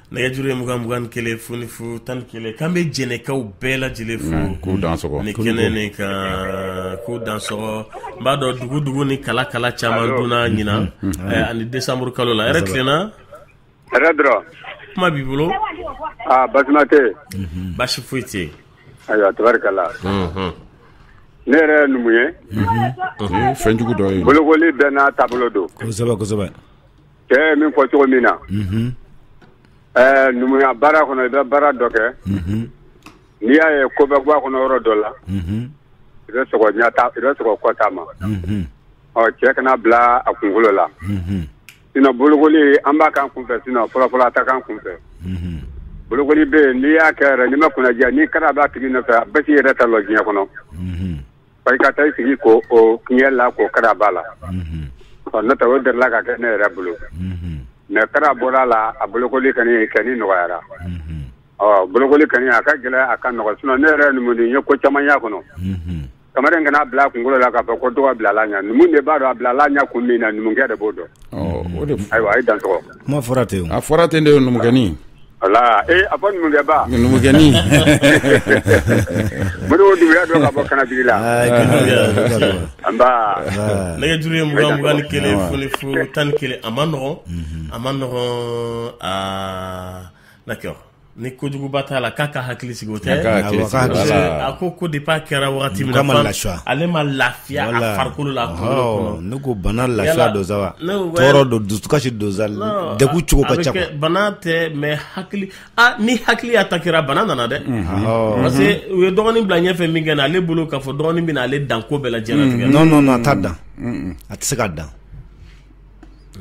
nɛgɛjuru ye mugan mugan kelen fu ni fu tan ni kelen k'an bɛ jɛnɛkaw bɛɛ lajɛlen fo mm, k'u dansɔgɔ nin kɛnɛ nin kan k'u dansɔgɔ n b'a dɔn dugu dugu ni kala kala caman donna mm-hmm. ɲinan mm-hmm. eh, ani desanburu kalo la hɛrɛ tilenna hɛrɛ dɔrɔn kuma b'i bolo aa ah, basima tɛ mm-hmm. basi foyi tɛ ayiwa tabarikala ne yɛrɛ ye numu ye fɛn jugu dɔ ye bolokoli bɛɛ n'a taabolo don kosɛbɛ kosɛbɛ Cɛ ye min fɔ cogo min na numuya baara kɔnɔ i bɛ baara dɔ kɛ n'i y'a ye ko bɛ bɔ a kɔnɔ yɔrɔ dɔ la i bɛ sɔrɔ kɔta ma cɛ kana bila a kunkolo la sinon bolokoli an b'a k'an kunfɛ sinon fɔlɔfɔlɔ an t'a k'an kunfɛ bolokoli bɛ yen n'i y'a kɛ yɛrɛ n'i ma kunnadiya ni kara b'a tigi nɔfɛ a bɛɛ k'i yɛrɛ ta la diɲɛ kɔnɔ i ka taa i sigi ko o tiɲɛla ko kara b'a la ɔ ne ta o delila ka kɛ ne yɛrɛ bolo mais kara bɔra a la a bolokoli kɔni kɔni nɔgɔyara ɔ bolokoli kɔni a ka gɛlɛn a ka nɔgɔn sinon ne yɛrɛ numu ye ko caman y'a kɔnɔ kamalen kan'a bila a kunkolo la k'a fɔ ko dɔgɔ bilala ɲɛ numu de b'a dɔn a bilala ɲɛ kun min na numukɛ de b'o dɔn ayiwa a ye dansɔgɔ kuma fɔra ten a fɔra ten de ye numukɛnin Voilà ee a fɔ numukɛba numukɛnin modibo dunbuya don ka bɔ kanajigila nba nɛgɛjuru ye mugan mugan ni kelen fu ni fu tan ni kelen a ma nɔgɔn a ma nɔgɔn d'accord ni kojuguba t'a la k'a ka hakili sigi o tɛ a ko ko de parce a kɛra waati min la ale ma la Ne ko bana lafiya don sa tɔɔrɔ don dusukasi don sa degun cogo ka ca bana tɛ mɛ hakili ni hakili atakera bana nana dɛ parce que u ye dɔgɔnin bila ɲɛfɛ min kɛ na ale bolo k'a fɔ dɔgɔnin bɛna ale dan ko bɛɛ la diɲɛlatigɛ non a t'a dan a tɛ se k'a dan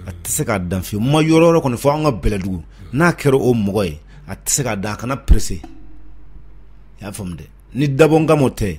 a tɛ se k'a dan fiyewu n ma yɔrɔ yɔrɔ kɔni fɔ an ka bɛlɛdugu n'a kɛra o mɔgɔ ye a tɛ se k'a dan a kana perese i y'a faamu dɛ ni dabɔkama tɛ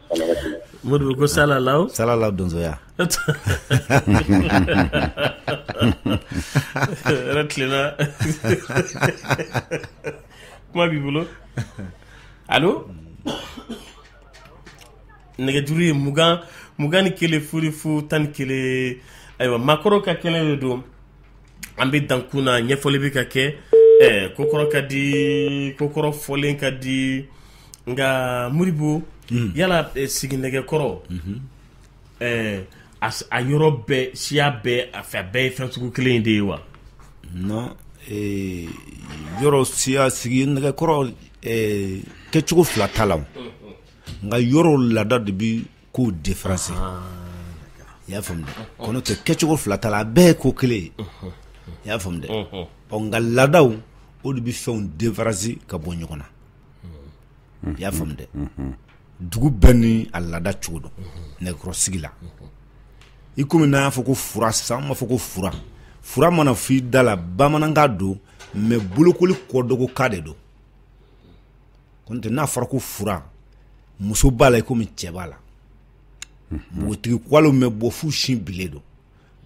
Modibo ko sala sala donsoya tilela kuma b'i bolo alo nɛgɛjuru ye mugan mugan ni kelen fu ni fu tan ni kelen ayiwa makɔrɔ ka kɛnɛ de don an bɛ dankun na ɲɛfɔli bɛ ka kɛ ɛɛ kokɔrɔ ka di kokɔrɔ fɔlen ka di nka Modibo yala sigi nɛgɛkɔrɔ ɛɛ a yɔrɔ bɛɛ siya bɛɛ a fɛ bɛɛ ye fɛn sugu kelen in de ye wa non yɔrɔ siya sigi nɛgɛkɔrɔ kɛcogo fila t'a la nka yɔrɔ laada de bɛ ko defaranse i y'a faamu dɛ kɔnɔntɛ kɛcogo fila t'a la a bɛɛ ye ko kelen ye i y'a faamu dɛ ɔ nka laadaw o de bɛ fɛnw defaranse ka bɔ ɲɔgɔn na i y'a faamu dɛ dugu bɛɛ ni a laada cogo don nɛgɛkɔrɔsigi la i komi n'an y'a fɔ ko fura sisan an b'a fɔ ko fura fura mana f'i da la bamanankan don mɛ bolokoli kɔdɔgɔkan de don kɔntɛ n'a fɔra ko fura muso b'a la i komi cɛ b'a la npogotigi kɔgɔlenw bɛ bɔ fo u sin bilen don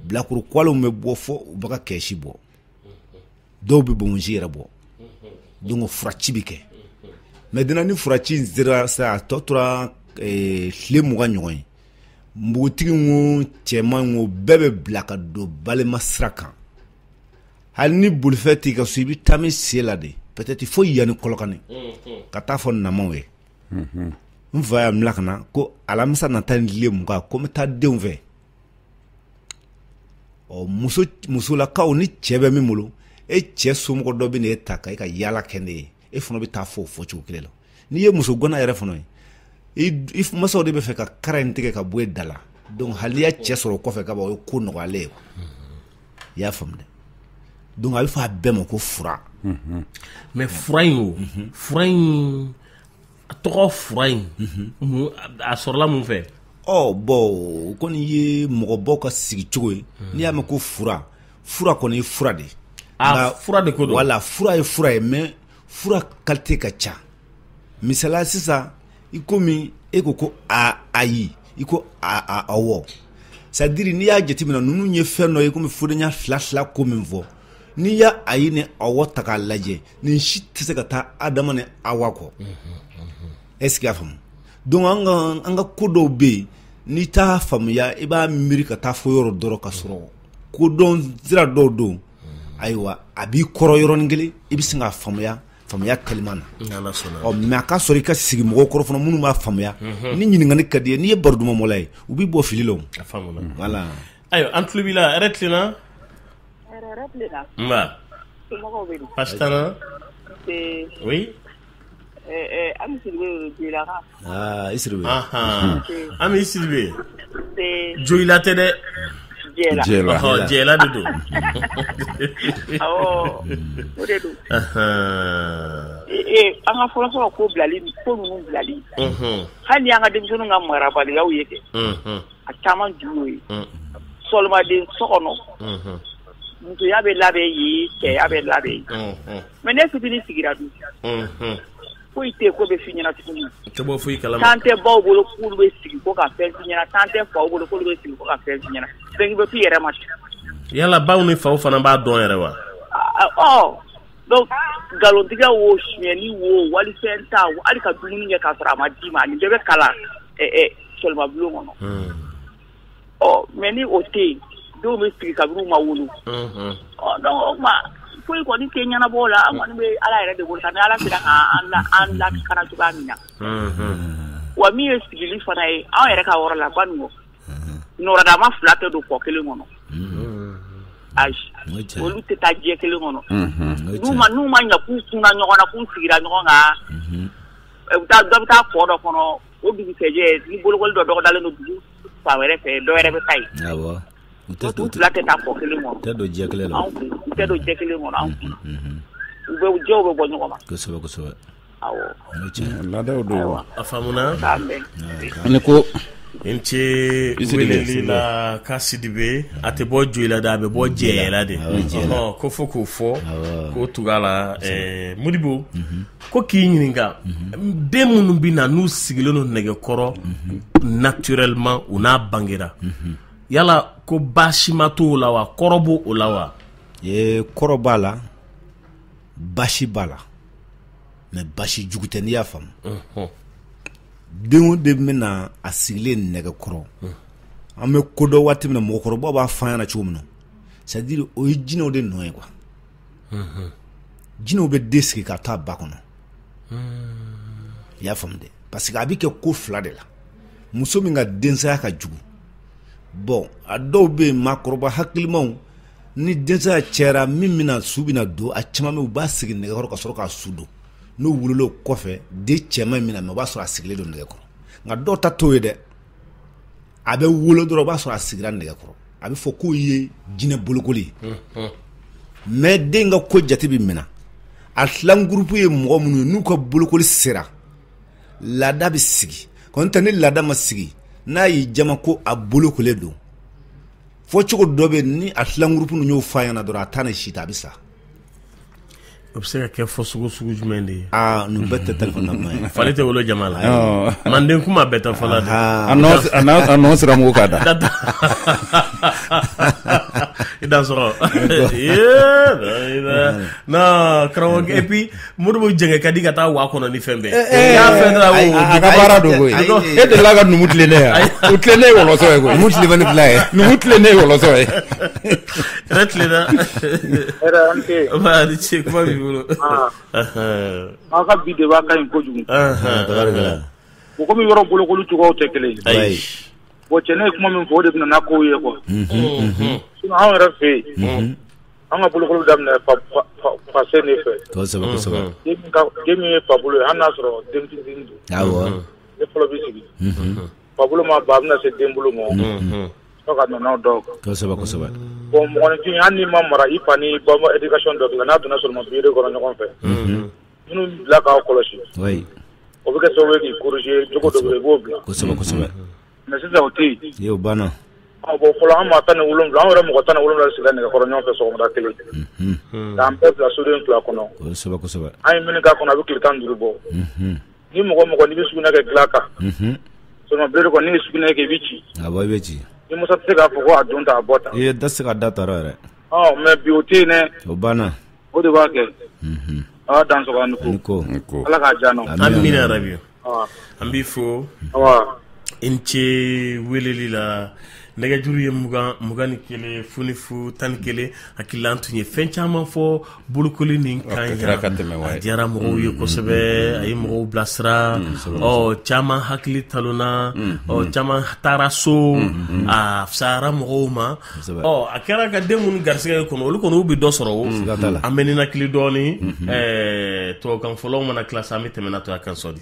bilakoro kɔgɔlenw bɛ bɔ fo u bɛ ka kɛsi bɔ dɔw bɛ bonsi yɛrɛ bɔ donc furaci bɛ kɛ maintenant ni furaci in sera sa a tɔ tora eh, tile mugan ɲɔgɔn ye npogotigi wo cɛman wo bɛɛ bɛ bila ka don balima sira kan hali ni bolifɛn t'i ka so i bɛ taama i sen la de peut-être fo yan ni kɔlɔkani ka taa fɔ namaw ye n fa ye n bila ka na ko alamisa nata ni tile mugan ko n bɛ taa denw fɛ ɔ muso musolakaw ni cɛ bɛ min bolo e cɛ somɔgɔ dɔ bɛ na e ta ka e ka yaala kɛ ne ye e fana bɛ taa fɔ o fɔcogo kelen la n'i ye muso gana yɛrɛ fana ye i masaw de bɛ fɛ ka kara in tigɛ ka bɔ e da la donc hali n'i ye cɛ sɔrɔ kɔfɛ ka ban o ye ko nɔgɔyalen ye i y'a faamu dɛ donc a bɛ fɔ a bɛɛ ma ko fura mhm. mais fura in o mhm. fura in a tɔgɔ fura in mhm. a sɔrɔla mun fɛ ɔ bon o kɔni ye mɔgɔbaw ka sigi cogo ye n'i y'a mɛn ko fura fura kɔni ye fura de ye ah, fura de ko don wala fura ye fura ye mais fura kalite ka ca misala sisan i komi e ko ko a ayi i ko a a awɔ c'est à dire n'i y'a jateminɛ ninnu ye fɛn dɔ ye komi fodenya fila fila ko min fɔ n'i ye ayi ni awɔ ta k'a lajɛ nin si tɛ se ka taa adama ni awa kɔ est ce que y'a faamu donc an ka an ka ko dɔw bɛ yen n'i t'a faamuya i b'a miiri ka taa fo yɔrɔ dɔ rɔ ka sɔrɔ kodɔn sira dɔw don ayiwa a b'i kɔrɔ yɔrɔnin kelen i bɛ sin k'a faamuya faamuya kaliman na mais a ka sɔrɔ i ka sigi mɔgɔw kɔrɔ fana minnu b'a faamuya ni ɲininkali ka d'i ye n'i ye baro duman bɔla ye u b'i bɔ fili la voilà ayiwa an tulo b'i la tilenna Ami sidibe joyila tɛ dɛ jɛla de don awɔ o de don an ka fɔlɔ fɔlɔ ko bilali ko ninnu bilali hali an ka denmisɛnninw ka marabaliyaw ye kɛ a caman ju y'o ye sɔlimaden so kɔnɔ musoya bɛ labɛn yen cɛya bɛ labɛn yen Mais n'e fitinin sigira dun foyi tɛ k'o bɛ f'i ɲɛna tuguni tan tɛ baw bolo k'olu bɛ sigi ko ka fɛn f'i ɲɛna tan tɛ faw bolo k'olu bɛ sigi ko ka fɛn f'i ɲɛna fɛn bɛ f'i yɛrɛ ma yala baw ni faw fana b'a dɔn yɛrɛ wa ɔ donc nkalontigɛ wo sonyɛni wo walifɛn ta hali ka dumuni kɛ k'a sɔrɔ a ma d'i ma nin bɛɛ bɛ kalan sɔlimabulon kɔnɔ ɔ mais ni o tɛ yen dɔw bɛ sigi kabini u ma wolo donc o tuma foyi kɔni tɛ ɲɛnabɔ la an kɔni bɛ ala yɛrɛ de bolo ni ala sera k'an lakana cogoya min na wa min ye sigili fana ye an yɛrɛ ka yɔrɔ la baninkɔ nɔrɔdama fila tɛ don kɔ kelen kɔnɔ ayi olu tɛ taa jɛ kelen kɔnɔ n'u ma n'u ma ɲɛ k'u kunna ɲɔgɔn na k'u sigira ɲɔgɔn kan u bɛ taa dɔ bɛ taa kɔ dɔ kɔnɔ o dugusɛjɛ ni bolokoli dɔ dɔgɔdalen don dugu fan wɛrɛ fɛ dɔ wɛrɛ bɛ taa yen u fila tɛ taa kɔ kelen kɔnɔ tɛ don jɛ kelen na u tɛ don jɛ kelen kɔnɔ u jɛw bɛ bɔ ɲɔgɔn ma kosɛbɛ kosɛbɛ awɔ laadaw don a faamuna ani ko i ni ce weleli la ka sidibe a tɛ bɔ joyila dɛ a bɛ bɔ jɛyɛla de k'o fɔ k'o fɔ k'o tugu a la modibo ko k'i ɲininka den minnu bɛ na n'u sigilen don nɛgɛkɔrɔ naturellement u n'a bangera yala ko baasima t'o la wa kɔrɔ b'o la wa ee kɔrɔ b'a la baasi b'a la mais baasi jugu tɛ n'i y'a faamu den o den bɛ na a sigilen nɛgɛkɔrɔ an bɛ ko dɔn waati min na mɔgɔkɔrɔbaw b'a fɔ an ɲɛna cogo min na c'est à dire o ye jinɛw de nɔ ye quoi jinɛw bɛ den sigi k'a t'a ba kɔnɔ i y'a faamu dɛ parce que a bɛ kɛ ko fila de la muso min ka densaya ka jugu bon a dɔw bɛ yen maakɔrɔba hakilimaw ni densaya cayara min bɛna su bɛna don a caman bɛ u b'a sigi nɛgɛkɔrɔ ka sɔrɔ k'a su don n'u wolola o kɔfɛ den cɛman min na mɛ o b'a sɔrɔ a sigilen don nɛgɛkɔrɔ nka dɔw ta t'o ye dɛ a bɛ wolo dɔrɔn o b'a sɔrɔ a sigira nɛgɛkɔrɔ a bɛ fɔ k'o ye jinɛ bolokoli ye mais den ka ko jate bɛ minɛ a filan groupe ye mɔgɔ minnu ye n'u ka bolokoli sera laada bɛ sigi nɔntɛ ni laada ma sigi n'a y'i jama ko a bolokolen don fɔcogo dɔ bɛ ni a filan groupe ninnu y'o f'a ɲɛna dɔrɔn a taa ni si ta a bɛ sa O bɛ se ka kɛ fɔcogo sugu jumɛn de ye ninnu bɛɛ tɛ fali tɛ wolo jama la manden kuma bɛɛ tɛ fɔ la siramugu ka da i da sɔrɔ karamɔgɔ et puis Modibo jɛngɛ ka di ka taa waa kɔnɔ ni fɛn bɛɛ ye a ka baara don e delila ka numu tilennen yan o tilennen ye wɔlɔsɔ ye numu tilennen fila ye numu tilennen ye wɔlɔsɔ ye Yɛrɛ tilenna i ni ce kuma b'i bolo aw ka bi débat ka ɲi kojugu bon comme yɔrɔw bolokoli cogoyaw tɛ kelen ye bon cɛ nin ye kuma min fɔ o de bɛna n'a kow ye quoi sinon anw yɛrɛ fɛ yen an ka bolokoli daminɛ parce que ne fɛ den min ye fa bolo ye hali n'a sɔrɔ denmisɛn don o de fɔlɔ bɛ sigi fa bolo ma ba bɛna se den bolo ma Fo ka nana aw dɔw kan. Kosɛbɛ kosɛbɛ. Bon mɔgɔninfin hali n'i ma mara i fa n'i ba ma éducation dɔ k'i la n'aw donna soloma bire kɔnɔ ɲɔgɔn fɛ. Unhun. Minnu bɛ bila k'aw kɔlɔsi. Oui. O bɛ kɛ sababu ye k'i corriger jogo dɔ bɛ yen i b'o bila. Kosɛbɛ kosɛbɛ. Mais sisan o tɛ yen. Ee o banna. Ɔ bon fɔlɔ an maa 17 an yɛrɛ mɔgɔ 17 de sigira nɛgɛkɔrɔ ɲɔgɔn fɛ sɔgɔmada kelen. Unhun. K'an bɛɛ bila soden fila kɔnɔ. Kosɛbɛ kosɛbɛ. An ye min k'a kɔnɔ a bɛ tile 15 bɔ. Unhun. Ni mɔgɔ mɔgɔ n'i bɛ sugunɛ kɛ dilan kan soloma bire kɔnɔ n'i ye sugunɛ kɛ i bɛ ci a i bɛ ci i masa tɛ se k'a fɔ ko a don ta a bɔ ta i da se ka da ta yɛrɛ mais bi o tɛ yen o banna o de b'a kɛ ala dan ko ala k'a jan amina yarabi an b'i fo i ni ce weleli la nɛgɛjuru ye mugan mugan ni kelen fonifu tan ni kelen hakili an tun ye fɛn caman fɔ bolokoli nin kan a diyara mɔgɔw ye mm, kosɛbɛ mm, mm, a ye mɔgɔw bilasira ɔ caman hakili talonna ɔ caman taara so a fisayara mɔgɔw ma ɔ a kɛra ka den minnu garisɛgɛ ye kɔnɔ olu kɔni u bɛ dɔ sɔrɔ o an bɛ ninakili dɔɔnin tubabukan fɔlaw mana tila sa an bɛ tɛmɛ n'a tɔ a kan sɔdi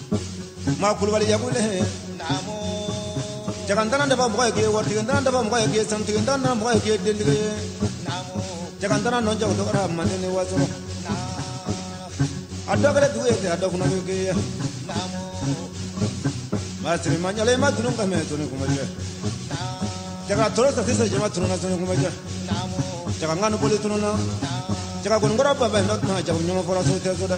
kulubali yagule jaga ntana daba mɔgɔ ye k'i ye waritigi daba mɔgɔ ye k'i ye sanutigi ntana mɔgɔ ye k'i ye dentigi ye jaga ntana nɔ jago tɔgɔra manden ni wasolon a dɔ kɛra dugu ye ten a dɔ fana bɛ k'i ye maa siri ma ɲɛla i ma dunu ka mɛ toni kuma jɛ jaga toro sa sisan jama tununa toni kuma jɛ jaga ŋanu boli tununa jaga kɔni kɔrɔ baba ye n'o tuma jago ɲɔgɔn fɔra so tɛ so dɛ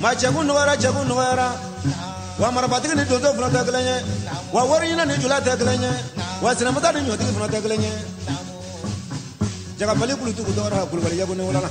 Ma cɛko nɔgɔyara cɛko nɔgɔyara wa marifatigi ni donso fana tɛ kelen ye wa wariɲinina ni jula tɛ kelen ye wa sinamatɛ ni ɲɔtigi fana tɛ kelen ye jaga bali kulutu dɔgɔra kulubali yagu ne wolo la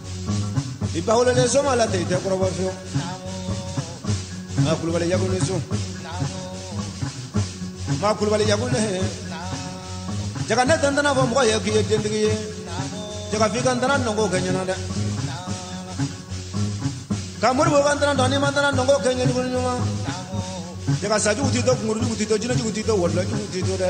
i ba wolo le soma la ten i tɛ kɔrɔbɔ fiyewu maa kulubali yagu ni sun maa kulubali yagu ne jaga ne tɛ ntana fɔ mɔgɔ ye k'i ye dentigi ye jaga f'i ka ntana nɔgɔ kɛ ɲɛna dɛ ka muru bɔ ka ntana dɔn n'i ma ntana nɔgɔ kɛ ɲɛ ni ko ɲuman jaga sajugu t'i to kunkurujugu t'i to jinɛjugu t'i to wɔlɔjugu t'i to dɛ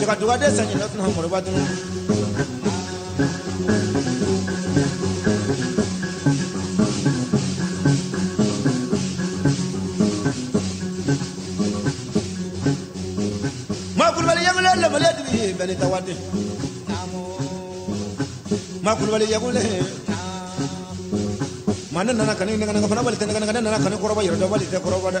jaga dugaden saɲinna tunun moriba tunun ma kulubali yagule lamale dibi ye bɛli tawade ma kulubali yagule ma ne nana kani ŋana ŋana fana bali tɛ ŋana ŋana ne nana kani kɔrɔba yɛrɛdɔnbali tɛ kɔrɔba dɛ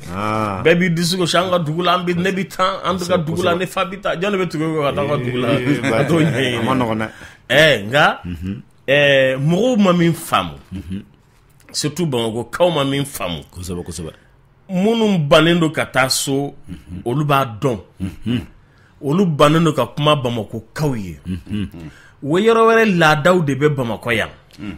bɛɛ b'i disi gosi an ka dugu la an bɛ ne bɛ taa an ka dugu la ne fa bɛ taa jɔn bɛ tugu ka taa ka dugu la nka mɔgɔw ma min faamu surtout bamakɔkaw ma min faamu kosɛbɛ kosɛbɛ minnu bannen don ka taa so olu b'a dɔn olu bannen don ka kuma bamakɔkaw ye ɔwɔ yɔrɔ wɛrɛ laadaw de bɛ bamakɔ yan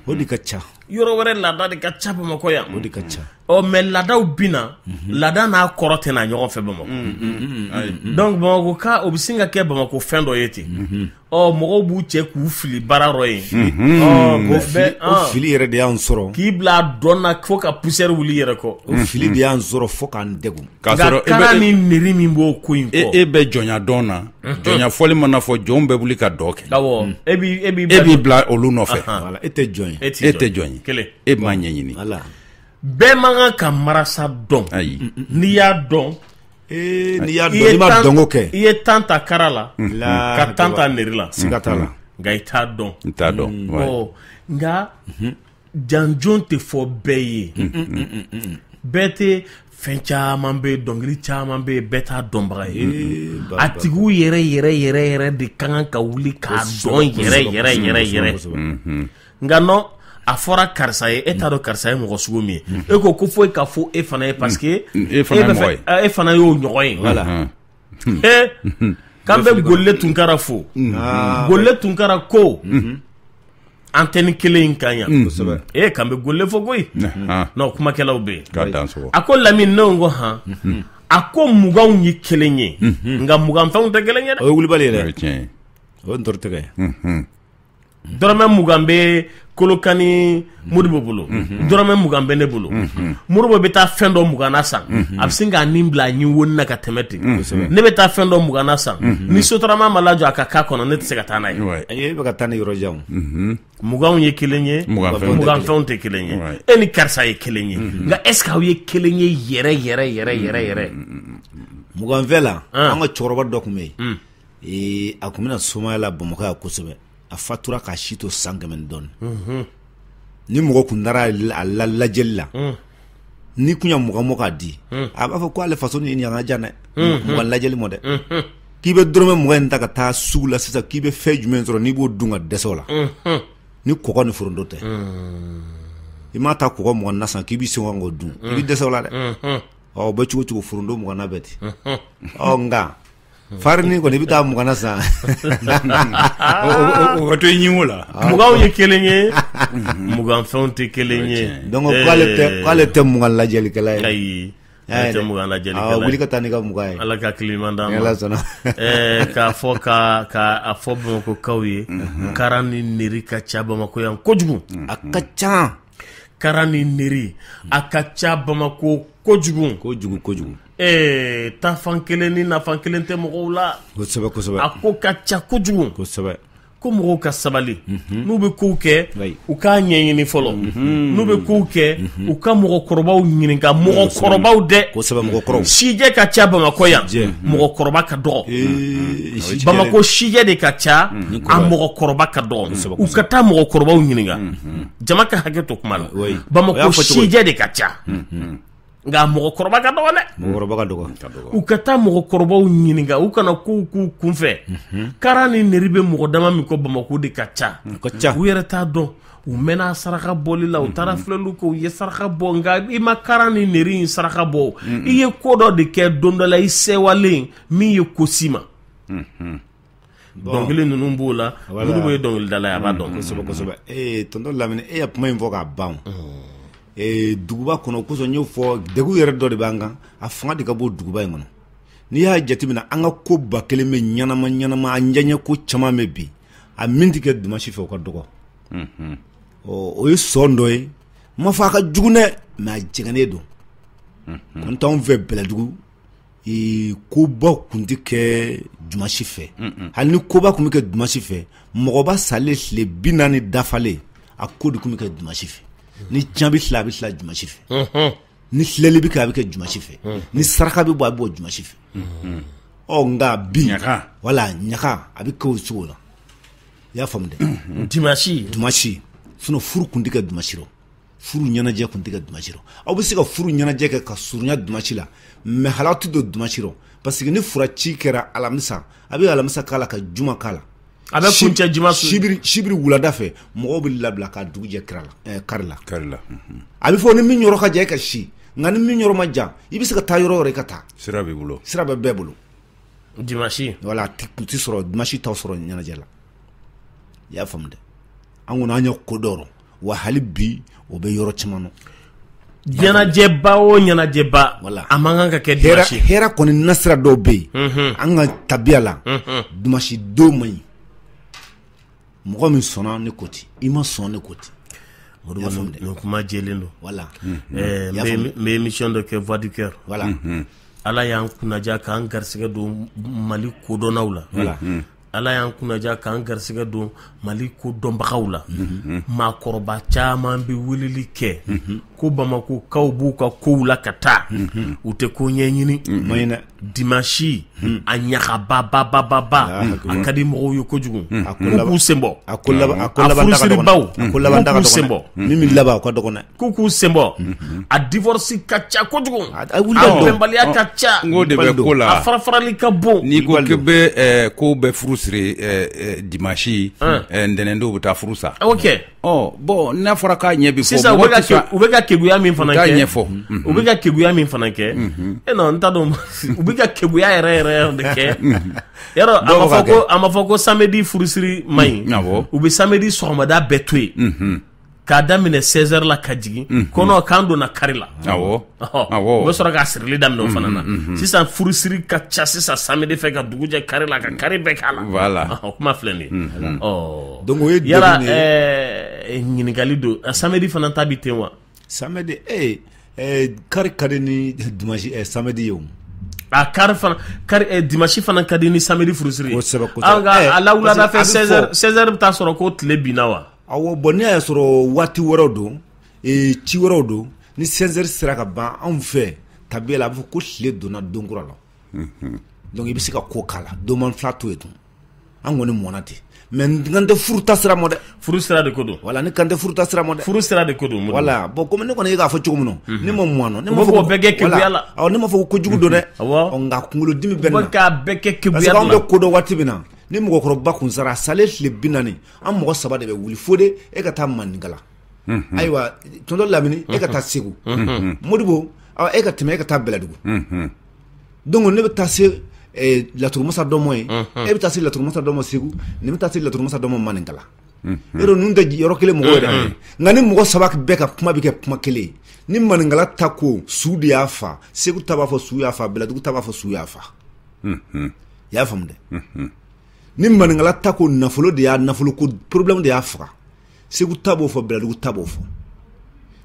o de ka ca yɔrɔ wɛrɛ laada de ka ca bamakɔ yan o de ka ca ɔ mais laadaw bɛ na laada n'a kɔrɔ tɛ na ɲɔgɔn fɛ bamakɔ donc bamakɔkaw bɛ sin k'a kɛ bamakɔ fɛn dɔ ye ten ɔ mɔgɔw b'u cɛ k'u fili baara dɔ ye o fili yɛrɛ de y'an sɔrɔ k'i bila dɔn na fo ka poussière wuli yɛrɛ kɔ o fili de y'an sɔrɔ fo k'an degun k'a sɔrɔ kara ni neri min b'o ko in e bɛ jɔnya dɔn na jɔnya fɔli mana fɔ jɔnw bɛ wuli ka dɔn kɛ e e b'i bila olu nɔfɛ e tɛ jɔn e tɛ jɔn ye e m'a ɲɛɲini bɛɛ man kan ka marasa dɔn n'i y'a dɔn eh, n'i y'a dɔn n'i ma dɔnko kɛ i ye tan ta kara la ka tan ta neri la siga t'a la nka i t'a dɔn i t'a dɔn mm. nka mhm. janjon tɛ fɔ bɛɛ ye mm, mm, bɛɛ tɛ fɛn caman bɛ yen dɔnkili caman bɛ yen bɛɛ t'a dɔnbaga ye a tigiw yɛrɛ yɛrɛ yɛrɛ yɛrɛ de ka kan ka wuli k'a dɔn yɛrɛ yɛrɛ yɛrɛ yɛrɛ nka non a fɔra karisa ye e t'a dɔn karisa ye mɔgɔ sugu min ye e ko ko fɔli ka fɔ e fana ye parce que mm. e fana ye mɔgɔ ye e fana y'o ɲɔgɔn ye voilà mm-hmm. Hmm. ee eh, k'an bɛ golle tunkara fo mm-hmm. ah, golle tunkara ko mm-hmm. antenne kelen in kan yan mm. kosɛbɛ ee eh, k'an bɛ golle fo koyi ah. non kumakɛlaw bɛ yen k'a dan sogo a ko lamini ne ko han a ko muganw ye kelen ye nka muganfɛnw tɛ kelen ye dɛ o ye wulibali ye dɛ o ye ntɔrɔtɛgɛ ye dɔrɔmɛ mugan bɛ kolokani modibo bolo dɔrɔmɛ mugan bɛ ne bolo modibo bɛ taa fɛn dɔ mugan na san a bɛ sin k'a nin bila a ɲin wonin na ka tɛmɛ ten ne bɛ taa fɛn dɔ mugan na san ni sotarama ma lajɔ a ka k'a kɔnɔ ne tɛ se ka taa n'a ye e bɛ ka taa ni yɔrɔ jan muganw ye kelen ye muganfɛnw tɛ kelen ye e ni karisa ye kelen ye nka est-ce que aw ye kelen ye yɛrɛ yɛrɛ yɛrɛ yɛrɛ yɛrɛ muganfɛ la an ka cɛkɔrɔba dɔ tun bɛ yen ee a tun bɛ na somaya la bamakɔ yan kosɛbɛ a fatura k'a si to san kɛmɛ dɔɔnin ni mɔgɔ tun taara a la lajɛli la n'i tun ye mugan bɔ k'a di a b'a fɔ k'ale faso ni yan ka jan dɛ mugan lajɛli ma dɛ k'i bɛ dɔrɔmɛ mugan in ta ka taa sugu la sisan k'i bɛ fɛn jumɛn sɔrɔ n'i b'o dun ka dɛsɛ o la ni kɔgɔ ni foronto tɛ i mana taa kɔgɔ mugan na san k'i bɛ se k'o dun i bɛ dɛsɛ o la dɛ o bɛ cogo o cogo foronto mugan na bɛ ten ɔ nka Farini kɔni i bɛ taa mugan na san o bɛ to ɲin wo la muganw ye kelen ye muganfɛnw tɛ kelen ye donc k'ale tɛ mugan lajɛlikɛla ye wuli ka taa n'i ka mugan ye ala ka kiman k'a fɔ k'a fɔ bamakɔkaw ye kara ni neri ka ca bamakɔ yan kojugu a ka ca Karan ni neri a ka ca bamakɔ kojugu kojugu kojugu ee tafan kelen ni nafan kelen tɛ mɔgɔw la a ko ka ca kojugu ko mɔgɔw ka sabali n'u bɛ kow kɛ u k'a ɲɛɲini fɔlɔ n'u bɛ kow kɛ u ka mɔgɔkɔrɔbaw ɲininka mɔgɔkɔrɔbaw dɛ mɔgɔkɔrɔba sijɛ ka ca bamakɔ yan mɔgɔkɔrɔba ka dɔgɔ bamakɔ sijɛ de ka ca a mɔgɔkɔrɔba ka dɔgɔ u ka taa mɔgɔkɔrɔbaw ɲininka jama ka hakɛ to kuma la oui. bamakɔ y'a fɔ cogo di? sijɛ de ka ca nka mɔgɔkɔrɔba ka dɔgɔ dɛ mɔgɔkɔrɔba ka dɔgɔ ka dɔgɔ u ka taa mɔgɔkɔrɔbaw ɲininka u kana kow k'u kunfɛ karan ni neri bɛ mɔgɔ dama min kɔ bamakɔ de ka ca u ka ca u yɛrɛ t'a dɔn u mɛnna saraka bɔli la u taara filɛliw kɛ u ye saraka bɔ nka i ma karan ni neri in saraka bɔ o. i ye ko dɔ de kɛ don dɔ la i sɛwalen min ye ko si ma dɔnkili ninnu b'o la modibo ye dɔnkilidala ye a b'a dɔn kosɛbɛ kosɛbɛ ee tonton lamini e ye kuma in fɔ k'a ban duguba kɔnɔ kosɔn y'o fɔ degun yɛrɛ dɔ de b'an kan a fanga de ka bon duguba in kɔnɔ n'i y'a jateminɛ an ka ko ba kelen bɛ ɲɛnama ɲɛnama an ɲɛ ko caman bɛ bi a min tɛ kɛ dimansi fɛ o ka dɔgɔ o ye sɔn dɔ ye n ma fɔ a ka jugu dɛ mais a jɛngɛnnen don kun t'anw fɛ bɛlɛdugu koba kun tɛ kɛ dimanche fɛ hali ni koba kun bɛ kɛ dimanche fɛ mɔgɔba salen tile bi naani dafalen a ko de kun bɛ kɛ dimanche fɛ ni cɛn bɛ tila a bɛ tila dimanche fɛ ni filɛli bɛ kɛ a bɛ kɛ dimanche fɛ ni saraka bɛ bɔ a bɛ bɔ dimanche fɛ ɔ nka bi wala ɲaga a bɛ kɛ o cogo la i y'a faamu dɛ sinon furu kun tɛ kɛ dimanche furu ɲɛnajɛ kun tɛ kɛ dimanche rɔ aw bɛ se ka furu ɲɛnajɛ kɛ ka surunya dimanche la mais hali aw tɛ don dimanche rɔ parce que ni furaci kɛra alamisa a bɛ alamisa k'a la ka juma k'a la a bɛ kuncɛ juma su sibiri sibiri wulada fɛ mɔgɔw bɛ labila ka dugu jɛ kari la ɛɛ kari la kari la a bɛ fɔ ni min yɔrɔ ka jan e ka si nka ni min yɔrɔ ma jan i bɛ se ka taa yɔrɔ yɔrɔ i ka taa sira b'i bolo sira bɛ bɛɛ bolo dimanche wala kun tɛ sɔrɔ dimanche t'aw sɔrɔ ɲɛnajɛ la i y'a faamu dɛ an kɔni an ye ko dɔ rɔ wa hali bi o bɛ yɔrɔ caman na ɲɛnajɛba o ɲɛnajɛba voilà a man kan ka kɛ dimanche hɛrɛ kɔni nasira dɔw bɛ yen Unhun. an ka tabiya la Unhun. dimanche don man ɲi mɔgɔ min sɔnna ne ko ten i ma sɔn ne ko ten o de b'a faamu dɛ nin kuma jɛlen don voilà Ɛɛ, n Y'a bɛ- faamu. n bɛ émission dɔ kɛ voix du cœur voilà ala y'an kunnaja k'an garisɛgɛ don mali kodɔnnaw la Ala y'an kunnaja k'an garisɛgɛ don Mali kodɔnbagaw la, unhun, maakɔrɔba caman bɛ weleli kɛ, unhun, ko Bamakokaw b'u ka kow la ka taa, unhun, u tɛ ko ɲɛɲini, o man ɲi dɛ, dimanche a ɲagababababa a ka di mɔgɔw ye kojugu, unhun, k'u k'u senbɔ, a ko laban, a ko laban daga dɔgɔnin, a furusiribaw, a ko laban daga dɔgɔnin, k'u k'u senbɔ, min bɛ laban o ka dɔgɔn dɛ K'u k'u senbɔ a divorce ka ca kojugu a bɛnbaliya ka ca n k'o de bɛ ko la a farafarali ka bon n'i ko k'i bɛ kow bɛɛ furu siri dimanche ntɛnɛn don u bɛ taa furu sa a y'o kɛ ɔ bon n'a fɔra k'a ɲɛ bɛ fɔ sisan u bɛ ka keguya min fana kɛ ɲɛfɔ u bɛ ka keguya min fana kɛ e non n t'a dɔn u bɛ ka keguya yɛrɛ yɛrɛ yɛrɛ de kɛ yɔrɔ a ma fɔ ko a ma fɔ ko samedi furusiri man ɲi u bɛ samedi sɔgɔmada bɛɛ to yen k'a daminɛ 16 heures la ka jigin mhm. kɔnɔ k'an donna kari la awɔ awɔ u bɛ sɔrɔ k'a sirili daminɛ o fana na mhm, mhm, sisan furusiri ka ca sisan samedi fɛ ka dugu jɛ kari la ka kari bɛɛ k'a la voilà o kuma filɛ nin ye ɔ donc o ye yala ɛɛ ɲininkali don samedi fana ta bi ten wa samedi ee eh, eh, kari ka di ni dimanche eh, samedi ye o a kari fana kari eh, dimanche fana ka di ni samedi furusiri ye kosɛbɛ kosɛbɛ an ka a la wulada fɛ 16 heures 16 heures bɛ taa sɔrɔ ko tile binna wa Awɔ bon ne y'a sɔrɔ waati wɛrɛw don ci wɛrɛw don ni 16 heures sera ka ban anw fɛ tabiya la a bɛ fɔ ko tile donna don kura la donc i bɛ se ka ko k'a la don man fila to yen tun an kɔni mɔna ten mais n kan tɛ furuta sira ma dɛ furu sira de ko don voilà ne kan tɛ furuta sira ma dɛ furu sira de ko don voilà bon comme ne kɔni e k'a fɔ cogo min ne ma mɔn ne ma fɔ bɛɛ kɛ keguya la ne ma fɔ ko jugu don dɛ nka kunkolodimi bɛ k' bɛɛ kɛ ke an bɛ ko dɔn waati min na ni mɔgɔkɔrɔba tun sara a salen tile bi naani an mɔgɔ saba de bɛ wuli Fode e ka taa maninkala ayiwa tonton Lamini e ka taa segu Modibo e ka tɛmɛ e ka taa bɛlɛdugu donc ne bɛ taa se laturumasa dɔ ma yen e bɛ taa se laturumasa dɔ ma segu ne bɛ taa se laturumasa dɔ ma maninkala e ninnu tɛ yɔrɔ kelen mɔgɔ yɛrɛ nka nin mɔgɔ saba bɛɛ ka kuma bɛ kɛ kuma kelen ni maninkala ta ko su de y'a faa segu ta b'a fɔ su y'a faa bɛlɛdugu ta b'a fɔ su y'a faa i y'a faamu dɛ ni maninkala ta ko nafolo de y'a nafolo ko problème de y'a faga segu ta b'o fɔ bɛlɛdugu ta b'o fɔ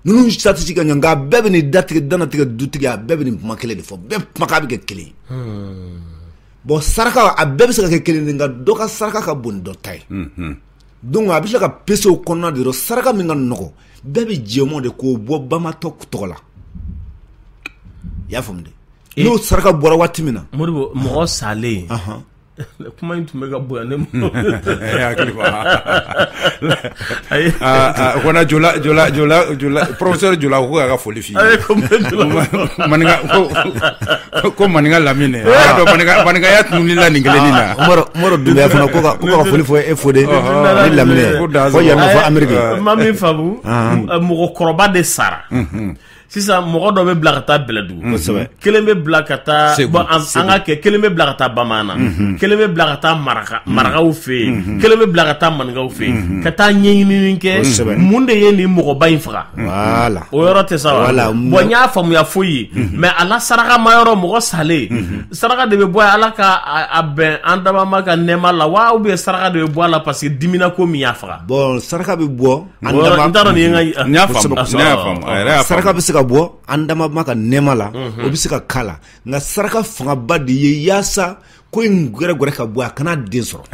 ninnu satisi ka ɲɛ nka bɛɛ bɛ nin datigɛ danatigɛ dutigi a bɛɛ bɛ nin kuma kelen de fɔ bɛɛ kumakan bɛ kɛ kelen ye hmm. bon saraka a bɛɛ bɛ se ka kɛ kelen de nka dɔ ka saraka ka bon ni dɔ ta ye hmm. donc a bɛ se ka pese o kɔnɔna de yɔrɔ saraka min ka nɔgɔ bɛɛ bɛ jɛmɔ de k'o bɔ bamatɔ tɔgɔ la i y'a faamu dɛ n'o saraka bɔra waati min na Modibo mɔgɔ salen kuma in tun bɛ ka bonya ne ma professeur Jula ko k'a ka foli f'i ye ko maninka lamini maninkaya tun ni la ni kelen na Umaru Dunbiya fana ko foli fɔ e Fode ni lamini ko yan fɔ Ameriki ma min faamu mɔgɔkɔrɔba de sara sisan mɔgɔ dɔ bɛ bila ka taa bɛlɛdugu kelen bɛ bila ka taa bɔn an ka kɛ kelen bɛ bila ka taa bamaana mhm. kelen bɛ bila ka taa maraka mhm. marakaw fɛ yen mhm. kelen bɛ bila ka taa maninkaw fɛ yen ka taa ɲɛɲinini kɛ mun de ye nin mɔgɔba in faga wala o yɔrɔ tɛ sa wa bɔn n y'a faamuya foyi ye mais ala saraka ma yɔrɔ mɔgɔ salen saraka de bɛ bɔ ala ka a bɛn an dabama ka nɛɛma la wa ou bien saraka de bɛ bɔ a la parce que dimina ko min y'a faga bɔn saraka bɛ bɔ saraka bɛ se ka bɔ an dama ma ka nɛɛma la o bɛ se ka k'a la nka saraka fangaba de ye yaasa ko in gɛrɛgɛrɛ ka bɔ a kana den sɔrɔ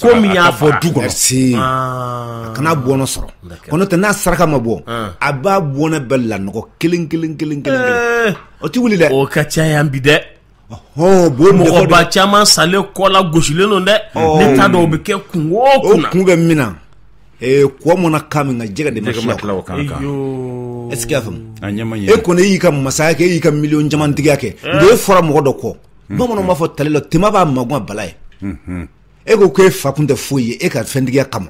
ko min y'a fɔ du kɔnɔ a kana bɔnɔ sɔrɔ ko n'o tɛ n'a saraka ma bɔ a b'a bɔnɛ bɛɛ lanɔgɔ kelen kelen kelen kelen o tɛ wuli dɛ o ka ca yan bi dɛ mɔgɔba caman salen kɔ la gosilen don dɛ ne t'a dɔn o bɛ kɛ kun o kun bɛ min na kɔ mɔnna ka min ka jɛgɛ de est-ce que e kɔni y'i ka masaya kɛ e y'i ka miliyɔn camantigiya kɛ nka e fɔra mɔgɔ dɔ kɔ bamanan b'a fɔ tale la tinba b'a magan bala ye e ko ko e fa kun tɛ foyi ye e ka fɛntigiya kama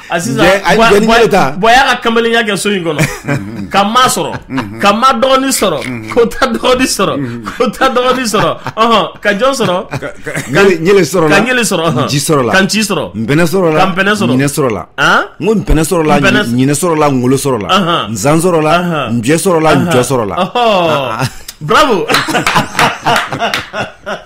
A sisan Jɛ- a- jɛni bolo ta. bɔn y'a ka kamalenya kɛ so in kɔnɔ ka ma sɔrɔ ka ma dɔgɔni sɔrɔ ko ta dɔgɔni sɔrɔ ko ta dɔgɔni sɔrɔ ɔhɔn ka jɔn sɔrɔ Ɲele- ɲele sɔrɔ la. ka ɲele sɔrɔ ɔhɔn. Ji sɔrɔ la. ka nci sɔrɔ npɛnɛ sɔrɔ la ka npɛnɛ sɔrɔ ɲinɛ sɔrɔ la An? n ko npɛnɛ sɔrɔ la Npɛnɛ- ɲi- ɲinɛ sɔrɔ la ngolo sɔrɔ la Ahan. nzan sɔrɔ la Ahan. njɛ sɔrɔ la njɔ sɔrɔ la Ɔhɔn. bravo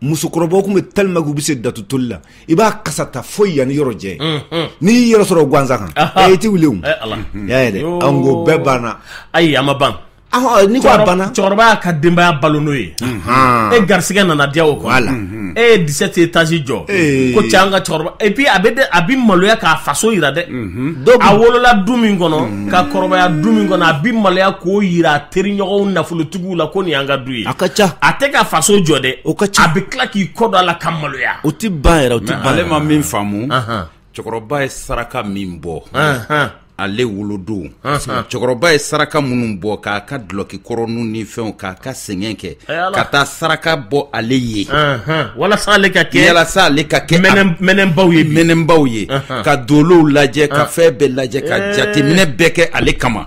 musokɔrɔbaw tun bɛ tellement que u bɛ se datu toli la i b'a kasa ta fo yan ni yɔrɔ jan n'i y'i yɛrɛ sɔrɔ gansa kan i tɛ wuli y'a ye dɛ an ko bɛɛ banna ayi a ma ban ni ko banna cɛkɔrɔba y'a ka denbaya balo n'o ye e garisɛgɛ nana diya o kɔ voilà e ye dix-sept étages jɔ ko cɛ an ka cɛkɔrɔba et puis a bɛ a bɛ maloya k'a faso jira dɛ a wolola du min kɔnɔ ka kɔrɔbaya du min kɔnɔ a bɛ maloya k'o jira a teriɲɔgɔn nafolotigiw la ko nin y'an ka du ye a ka ca a tɛ ka faso jɔ dɛ o ka ca a bɛ tila k'i kɔ don a la ka maloya o tɛ ban yɛrɛ o tɛ ban ale ma min faamu cɛkɔrɔba ye saraka min bɔ ale wolodon cɛkɔrɔba ye saraka minnu bɔ k'a ka dulɔki kɔrɔninw ni fɛnw k'a ka sɛgɛn kɛ ka taa saraka bɔ ale ye walasa ale ka kɛ walasa ale ka kɛ mɛnɛnbaw ye mɛnɛnbaw ye ka dolow lajɛ ka fɛn bɛɛ lajɛ ka jateminɛ bɛɛ kɛ ale kama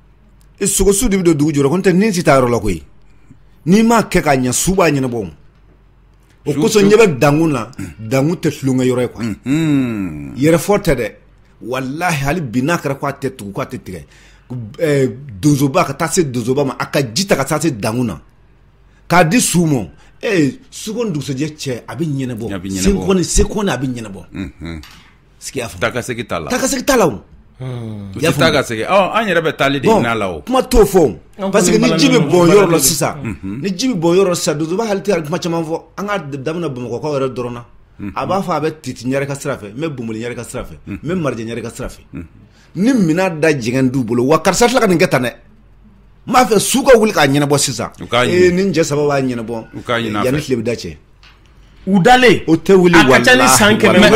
i sogosu de bɛ don dugu jɔrɔ ko n tɛ nin si t'a yɔrɔ la koyi n'i m'a kɛ k'a ɲɛ su b'a ɲɛnabɔ o o kosɔn ɲɛ bɛ dankun na dankun tɛ tulonkɛ yɔrɔ ye quoi yɛrɛfɔ tɛ dɛ walahi hali bi n'a kɛra k'a tɛ tugu k'a tɛ tigɛ eh, donsoba ka taa se donsoba ma a ka ji ta ka taa se dankun na k'a di su ma ee suko ni dugusɛjɛ cɛ a bɛ ɲɛnabɔ A bɛ ɲɛnabɔ. sekɔni sekɔni a bɛ ɲɛnabɔ Sigiya fɔ taakasegin t'a la taakasegin t'a la u tɛ taa ka segin an yɛrɛ bɛ taali de ɲin'a la o kuma t'o fɔ parce que ni ji bɛ bɔn yɔrɔ la sisan ni ji bɛ bɔn yɔrɔ sisan donsoba hali tɛ kuma caman fɔ an ka daminɛ bamakɔkaw yɛrɛ dɔrɔn na a b'a fɔ a bɛ titi ɲarɛ ka sira fɛ n bɛ bonboli ɲarɛ ka sira fɛ n bɛ marijɛ ɲarɛ ka sira fɛ ni minɛn da jɛngɛn d'u bolo wa karisa tila ka nin kɛ tan dɛ n b'a fɛ su ka wuli k'a ɲɛnabɔ sisan ni cɛ saba b'a ɲɛnabɔ yanni tile bɛ da cɛ U dalen o tɛ wuli a ka ca ni san kɛmɛ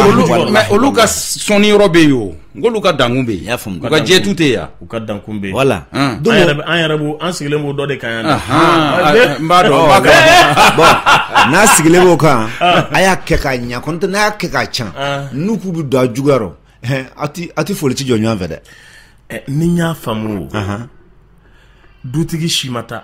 olu ka sɔnni yɔrɔ bɛ yen o nk'olu ka dankun bɛ yen u ka jɛtu tɛ yan u ka dankun bɛ yen voilà an yɛrɛ an sigilen b'o dɔ de kan yan n b'a dɔn n'a sigilen b'o kan a y'a kɛ k'a ɲɛ kɔni n'a y'a kɛ k'a can n'u k'u bɛ don a juguya rɔ a tɛ foli tɛ jɔ ɲɔgɔn fɛ dɛ n'i y'a faamu dutigi si ma taa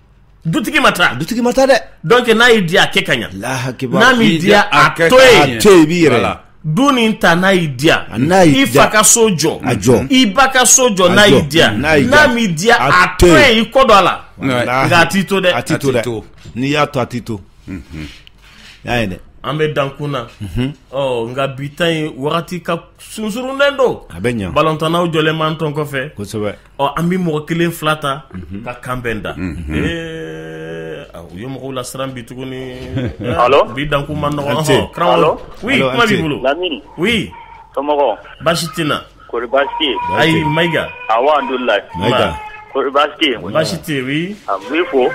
dutigi ma taa dutigi ma taa dɛ donc n'a y'i diya a kɛ ka ɲa n'a m'i diya a to yen to yen i b'i yɛrɛ la du nin ta n'a y'i diya i fa ka so jɔ a jɔ i ba ka so jɔ n'a y'i diya n'a m'i diya a to yen i kɔ don a la nka a t'i to dɛ a t'i to dɛ n'i y'a to a t'i to y'a ye dɛ an bɛ dankun na mhm. ɔ nka bi ta in wagati ka sunsurunnen don a bɛ ɲa balontannaw jɔlen b'an tɔn kɔfɛ kosɛbɛ ɔ an bɛ mɔgɔ kelen fila ta ka kanbɛn da u ye mɔgɔw lasiran bi tuguni bi dankun ma nɔgɔ karamɔgɔ kuma b'i bolo oui somɔgɔ baasi t'i na kɔri baasi tɛ ayi mayiga alhamdulilayi kɔri baasi baasi tɛ yen u b'i fo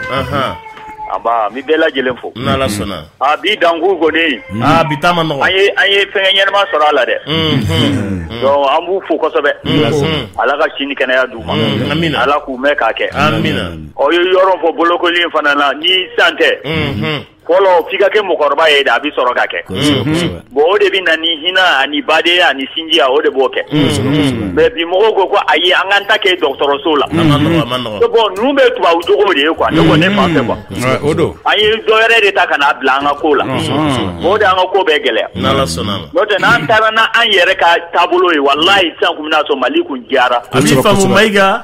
Nba, n bɛ bɛɛ lajɛlen fo. N'Ala sɔnna. Aa bi dankun kɔni. Aa bi ta ma nɔgɔ. An ye an ye fɛnkɛ ɲɛnama sɔrɔ a la dɛ. Unhun. Donc an b'u fo kosɛbɛ. N'Ala sɔnna. Ala ka si ni kɛnɛya d'u ma. Unhun. Amina. Ala k'u mɛɛn k'a kɛ. Amina. Aw ye yɔrɔ fɔ bolokoli in fana na ni sisan tɛ. Unhun. Fɔlɔ f'i ka kɛ mɔgɔkɔrɔba ye de a bɛ sɔrɔ ka kɛ. Kosɛbɛ, kosɛbɛ. bon o de bɛ na ni hinɛ ani badenya ani sinjiya o de b'o kɛ mais bi mɔgɔw ko ko ayi an k'an ta kɛ dɔgɔtɔrɔso la bon ninnu bɛ tubabu jogo de ye quoi ne ko ne fan fɛ quoi o don an ye dɔ wɛrɛ de ta ka n'a bila an ka ko la o de an ka ko bɛɛ gɛlɛya n'o tɛ n'an taara n'an yɛrɛ ka taabolo ye walayi sisan tun bɛn'a sɔrɔ mali kun diyara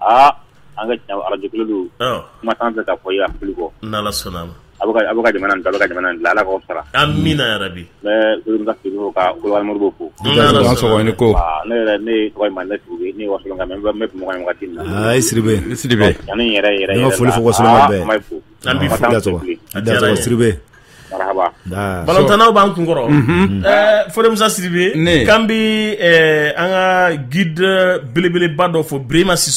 Aa an ka tiɲɛ arajo kelen don kuma t'an fɛ ka fɔ yan fili kɔ n'Ala sɔnna ma a bɛ ka jamana da ka jamana Ala k'aw sara amiina yarabi ka kulumo ko ne ko ne yɛrɛ ne ma ne tugu ne wa na Sidibe yɛrɛ yɛrɛ ma foli fo an bɛ fo Sidibe balantanaw b'an kun kɔrɔ Fode Musa Sidibe ne k'an bɛ an ka guide belebeleba dɔ fo Birima Siso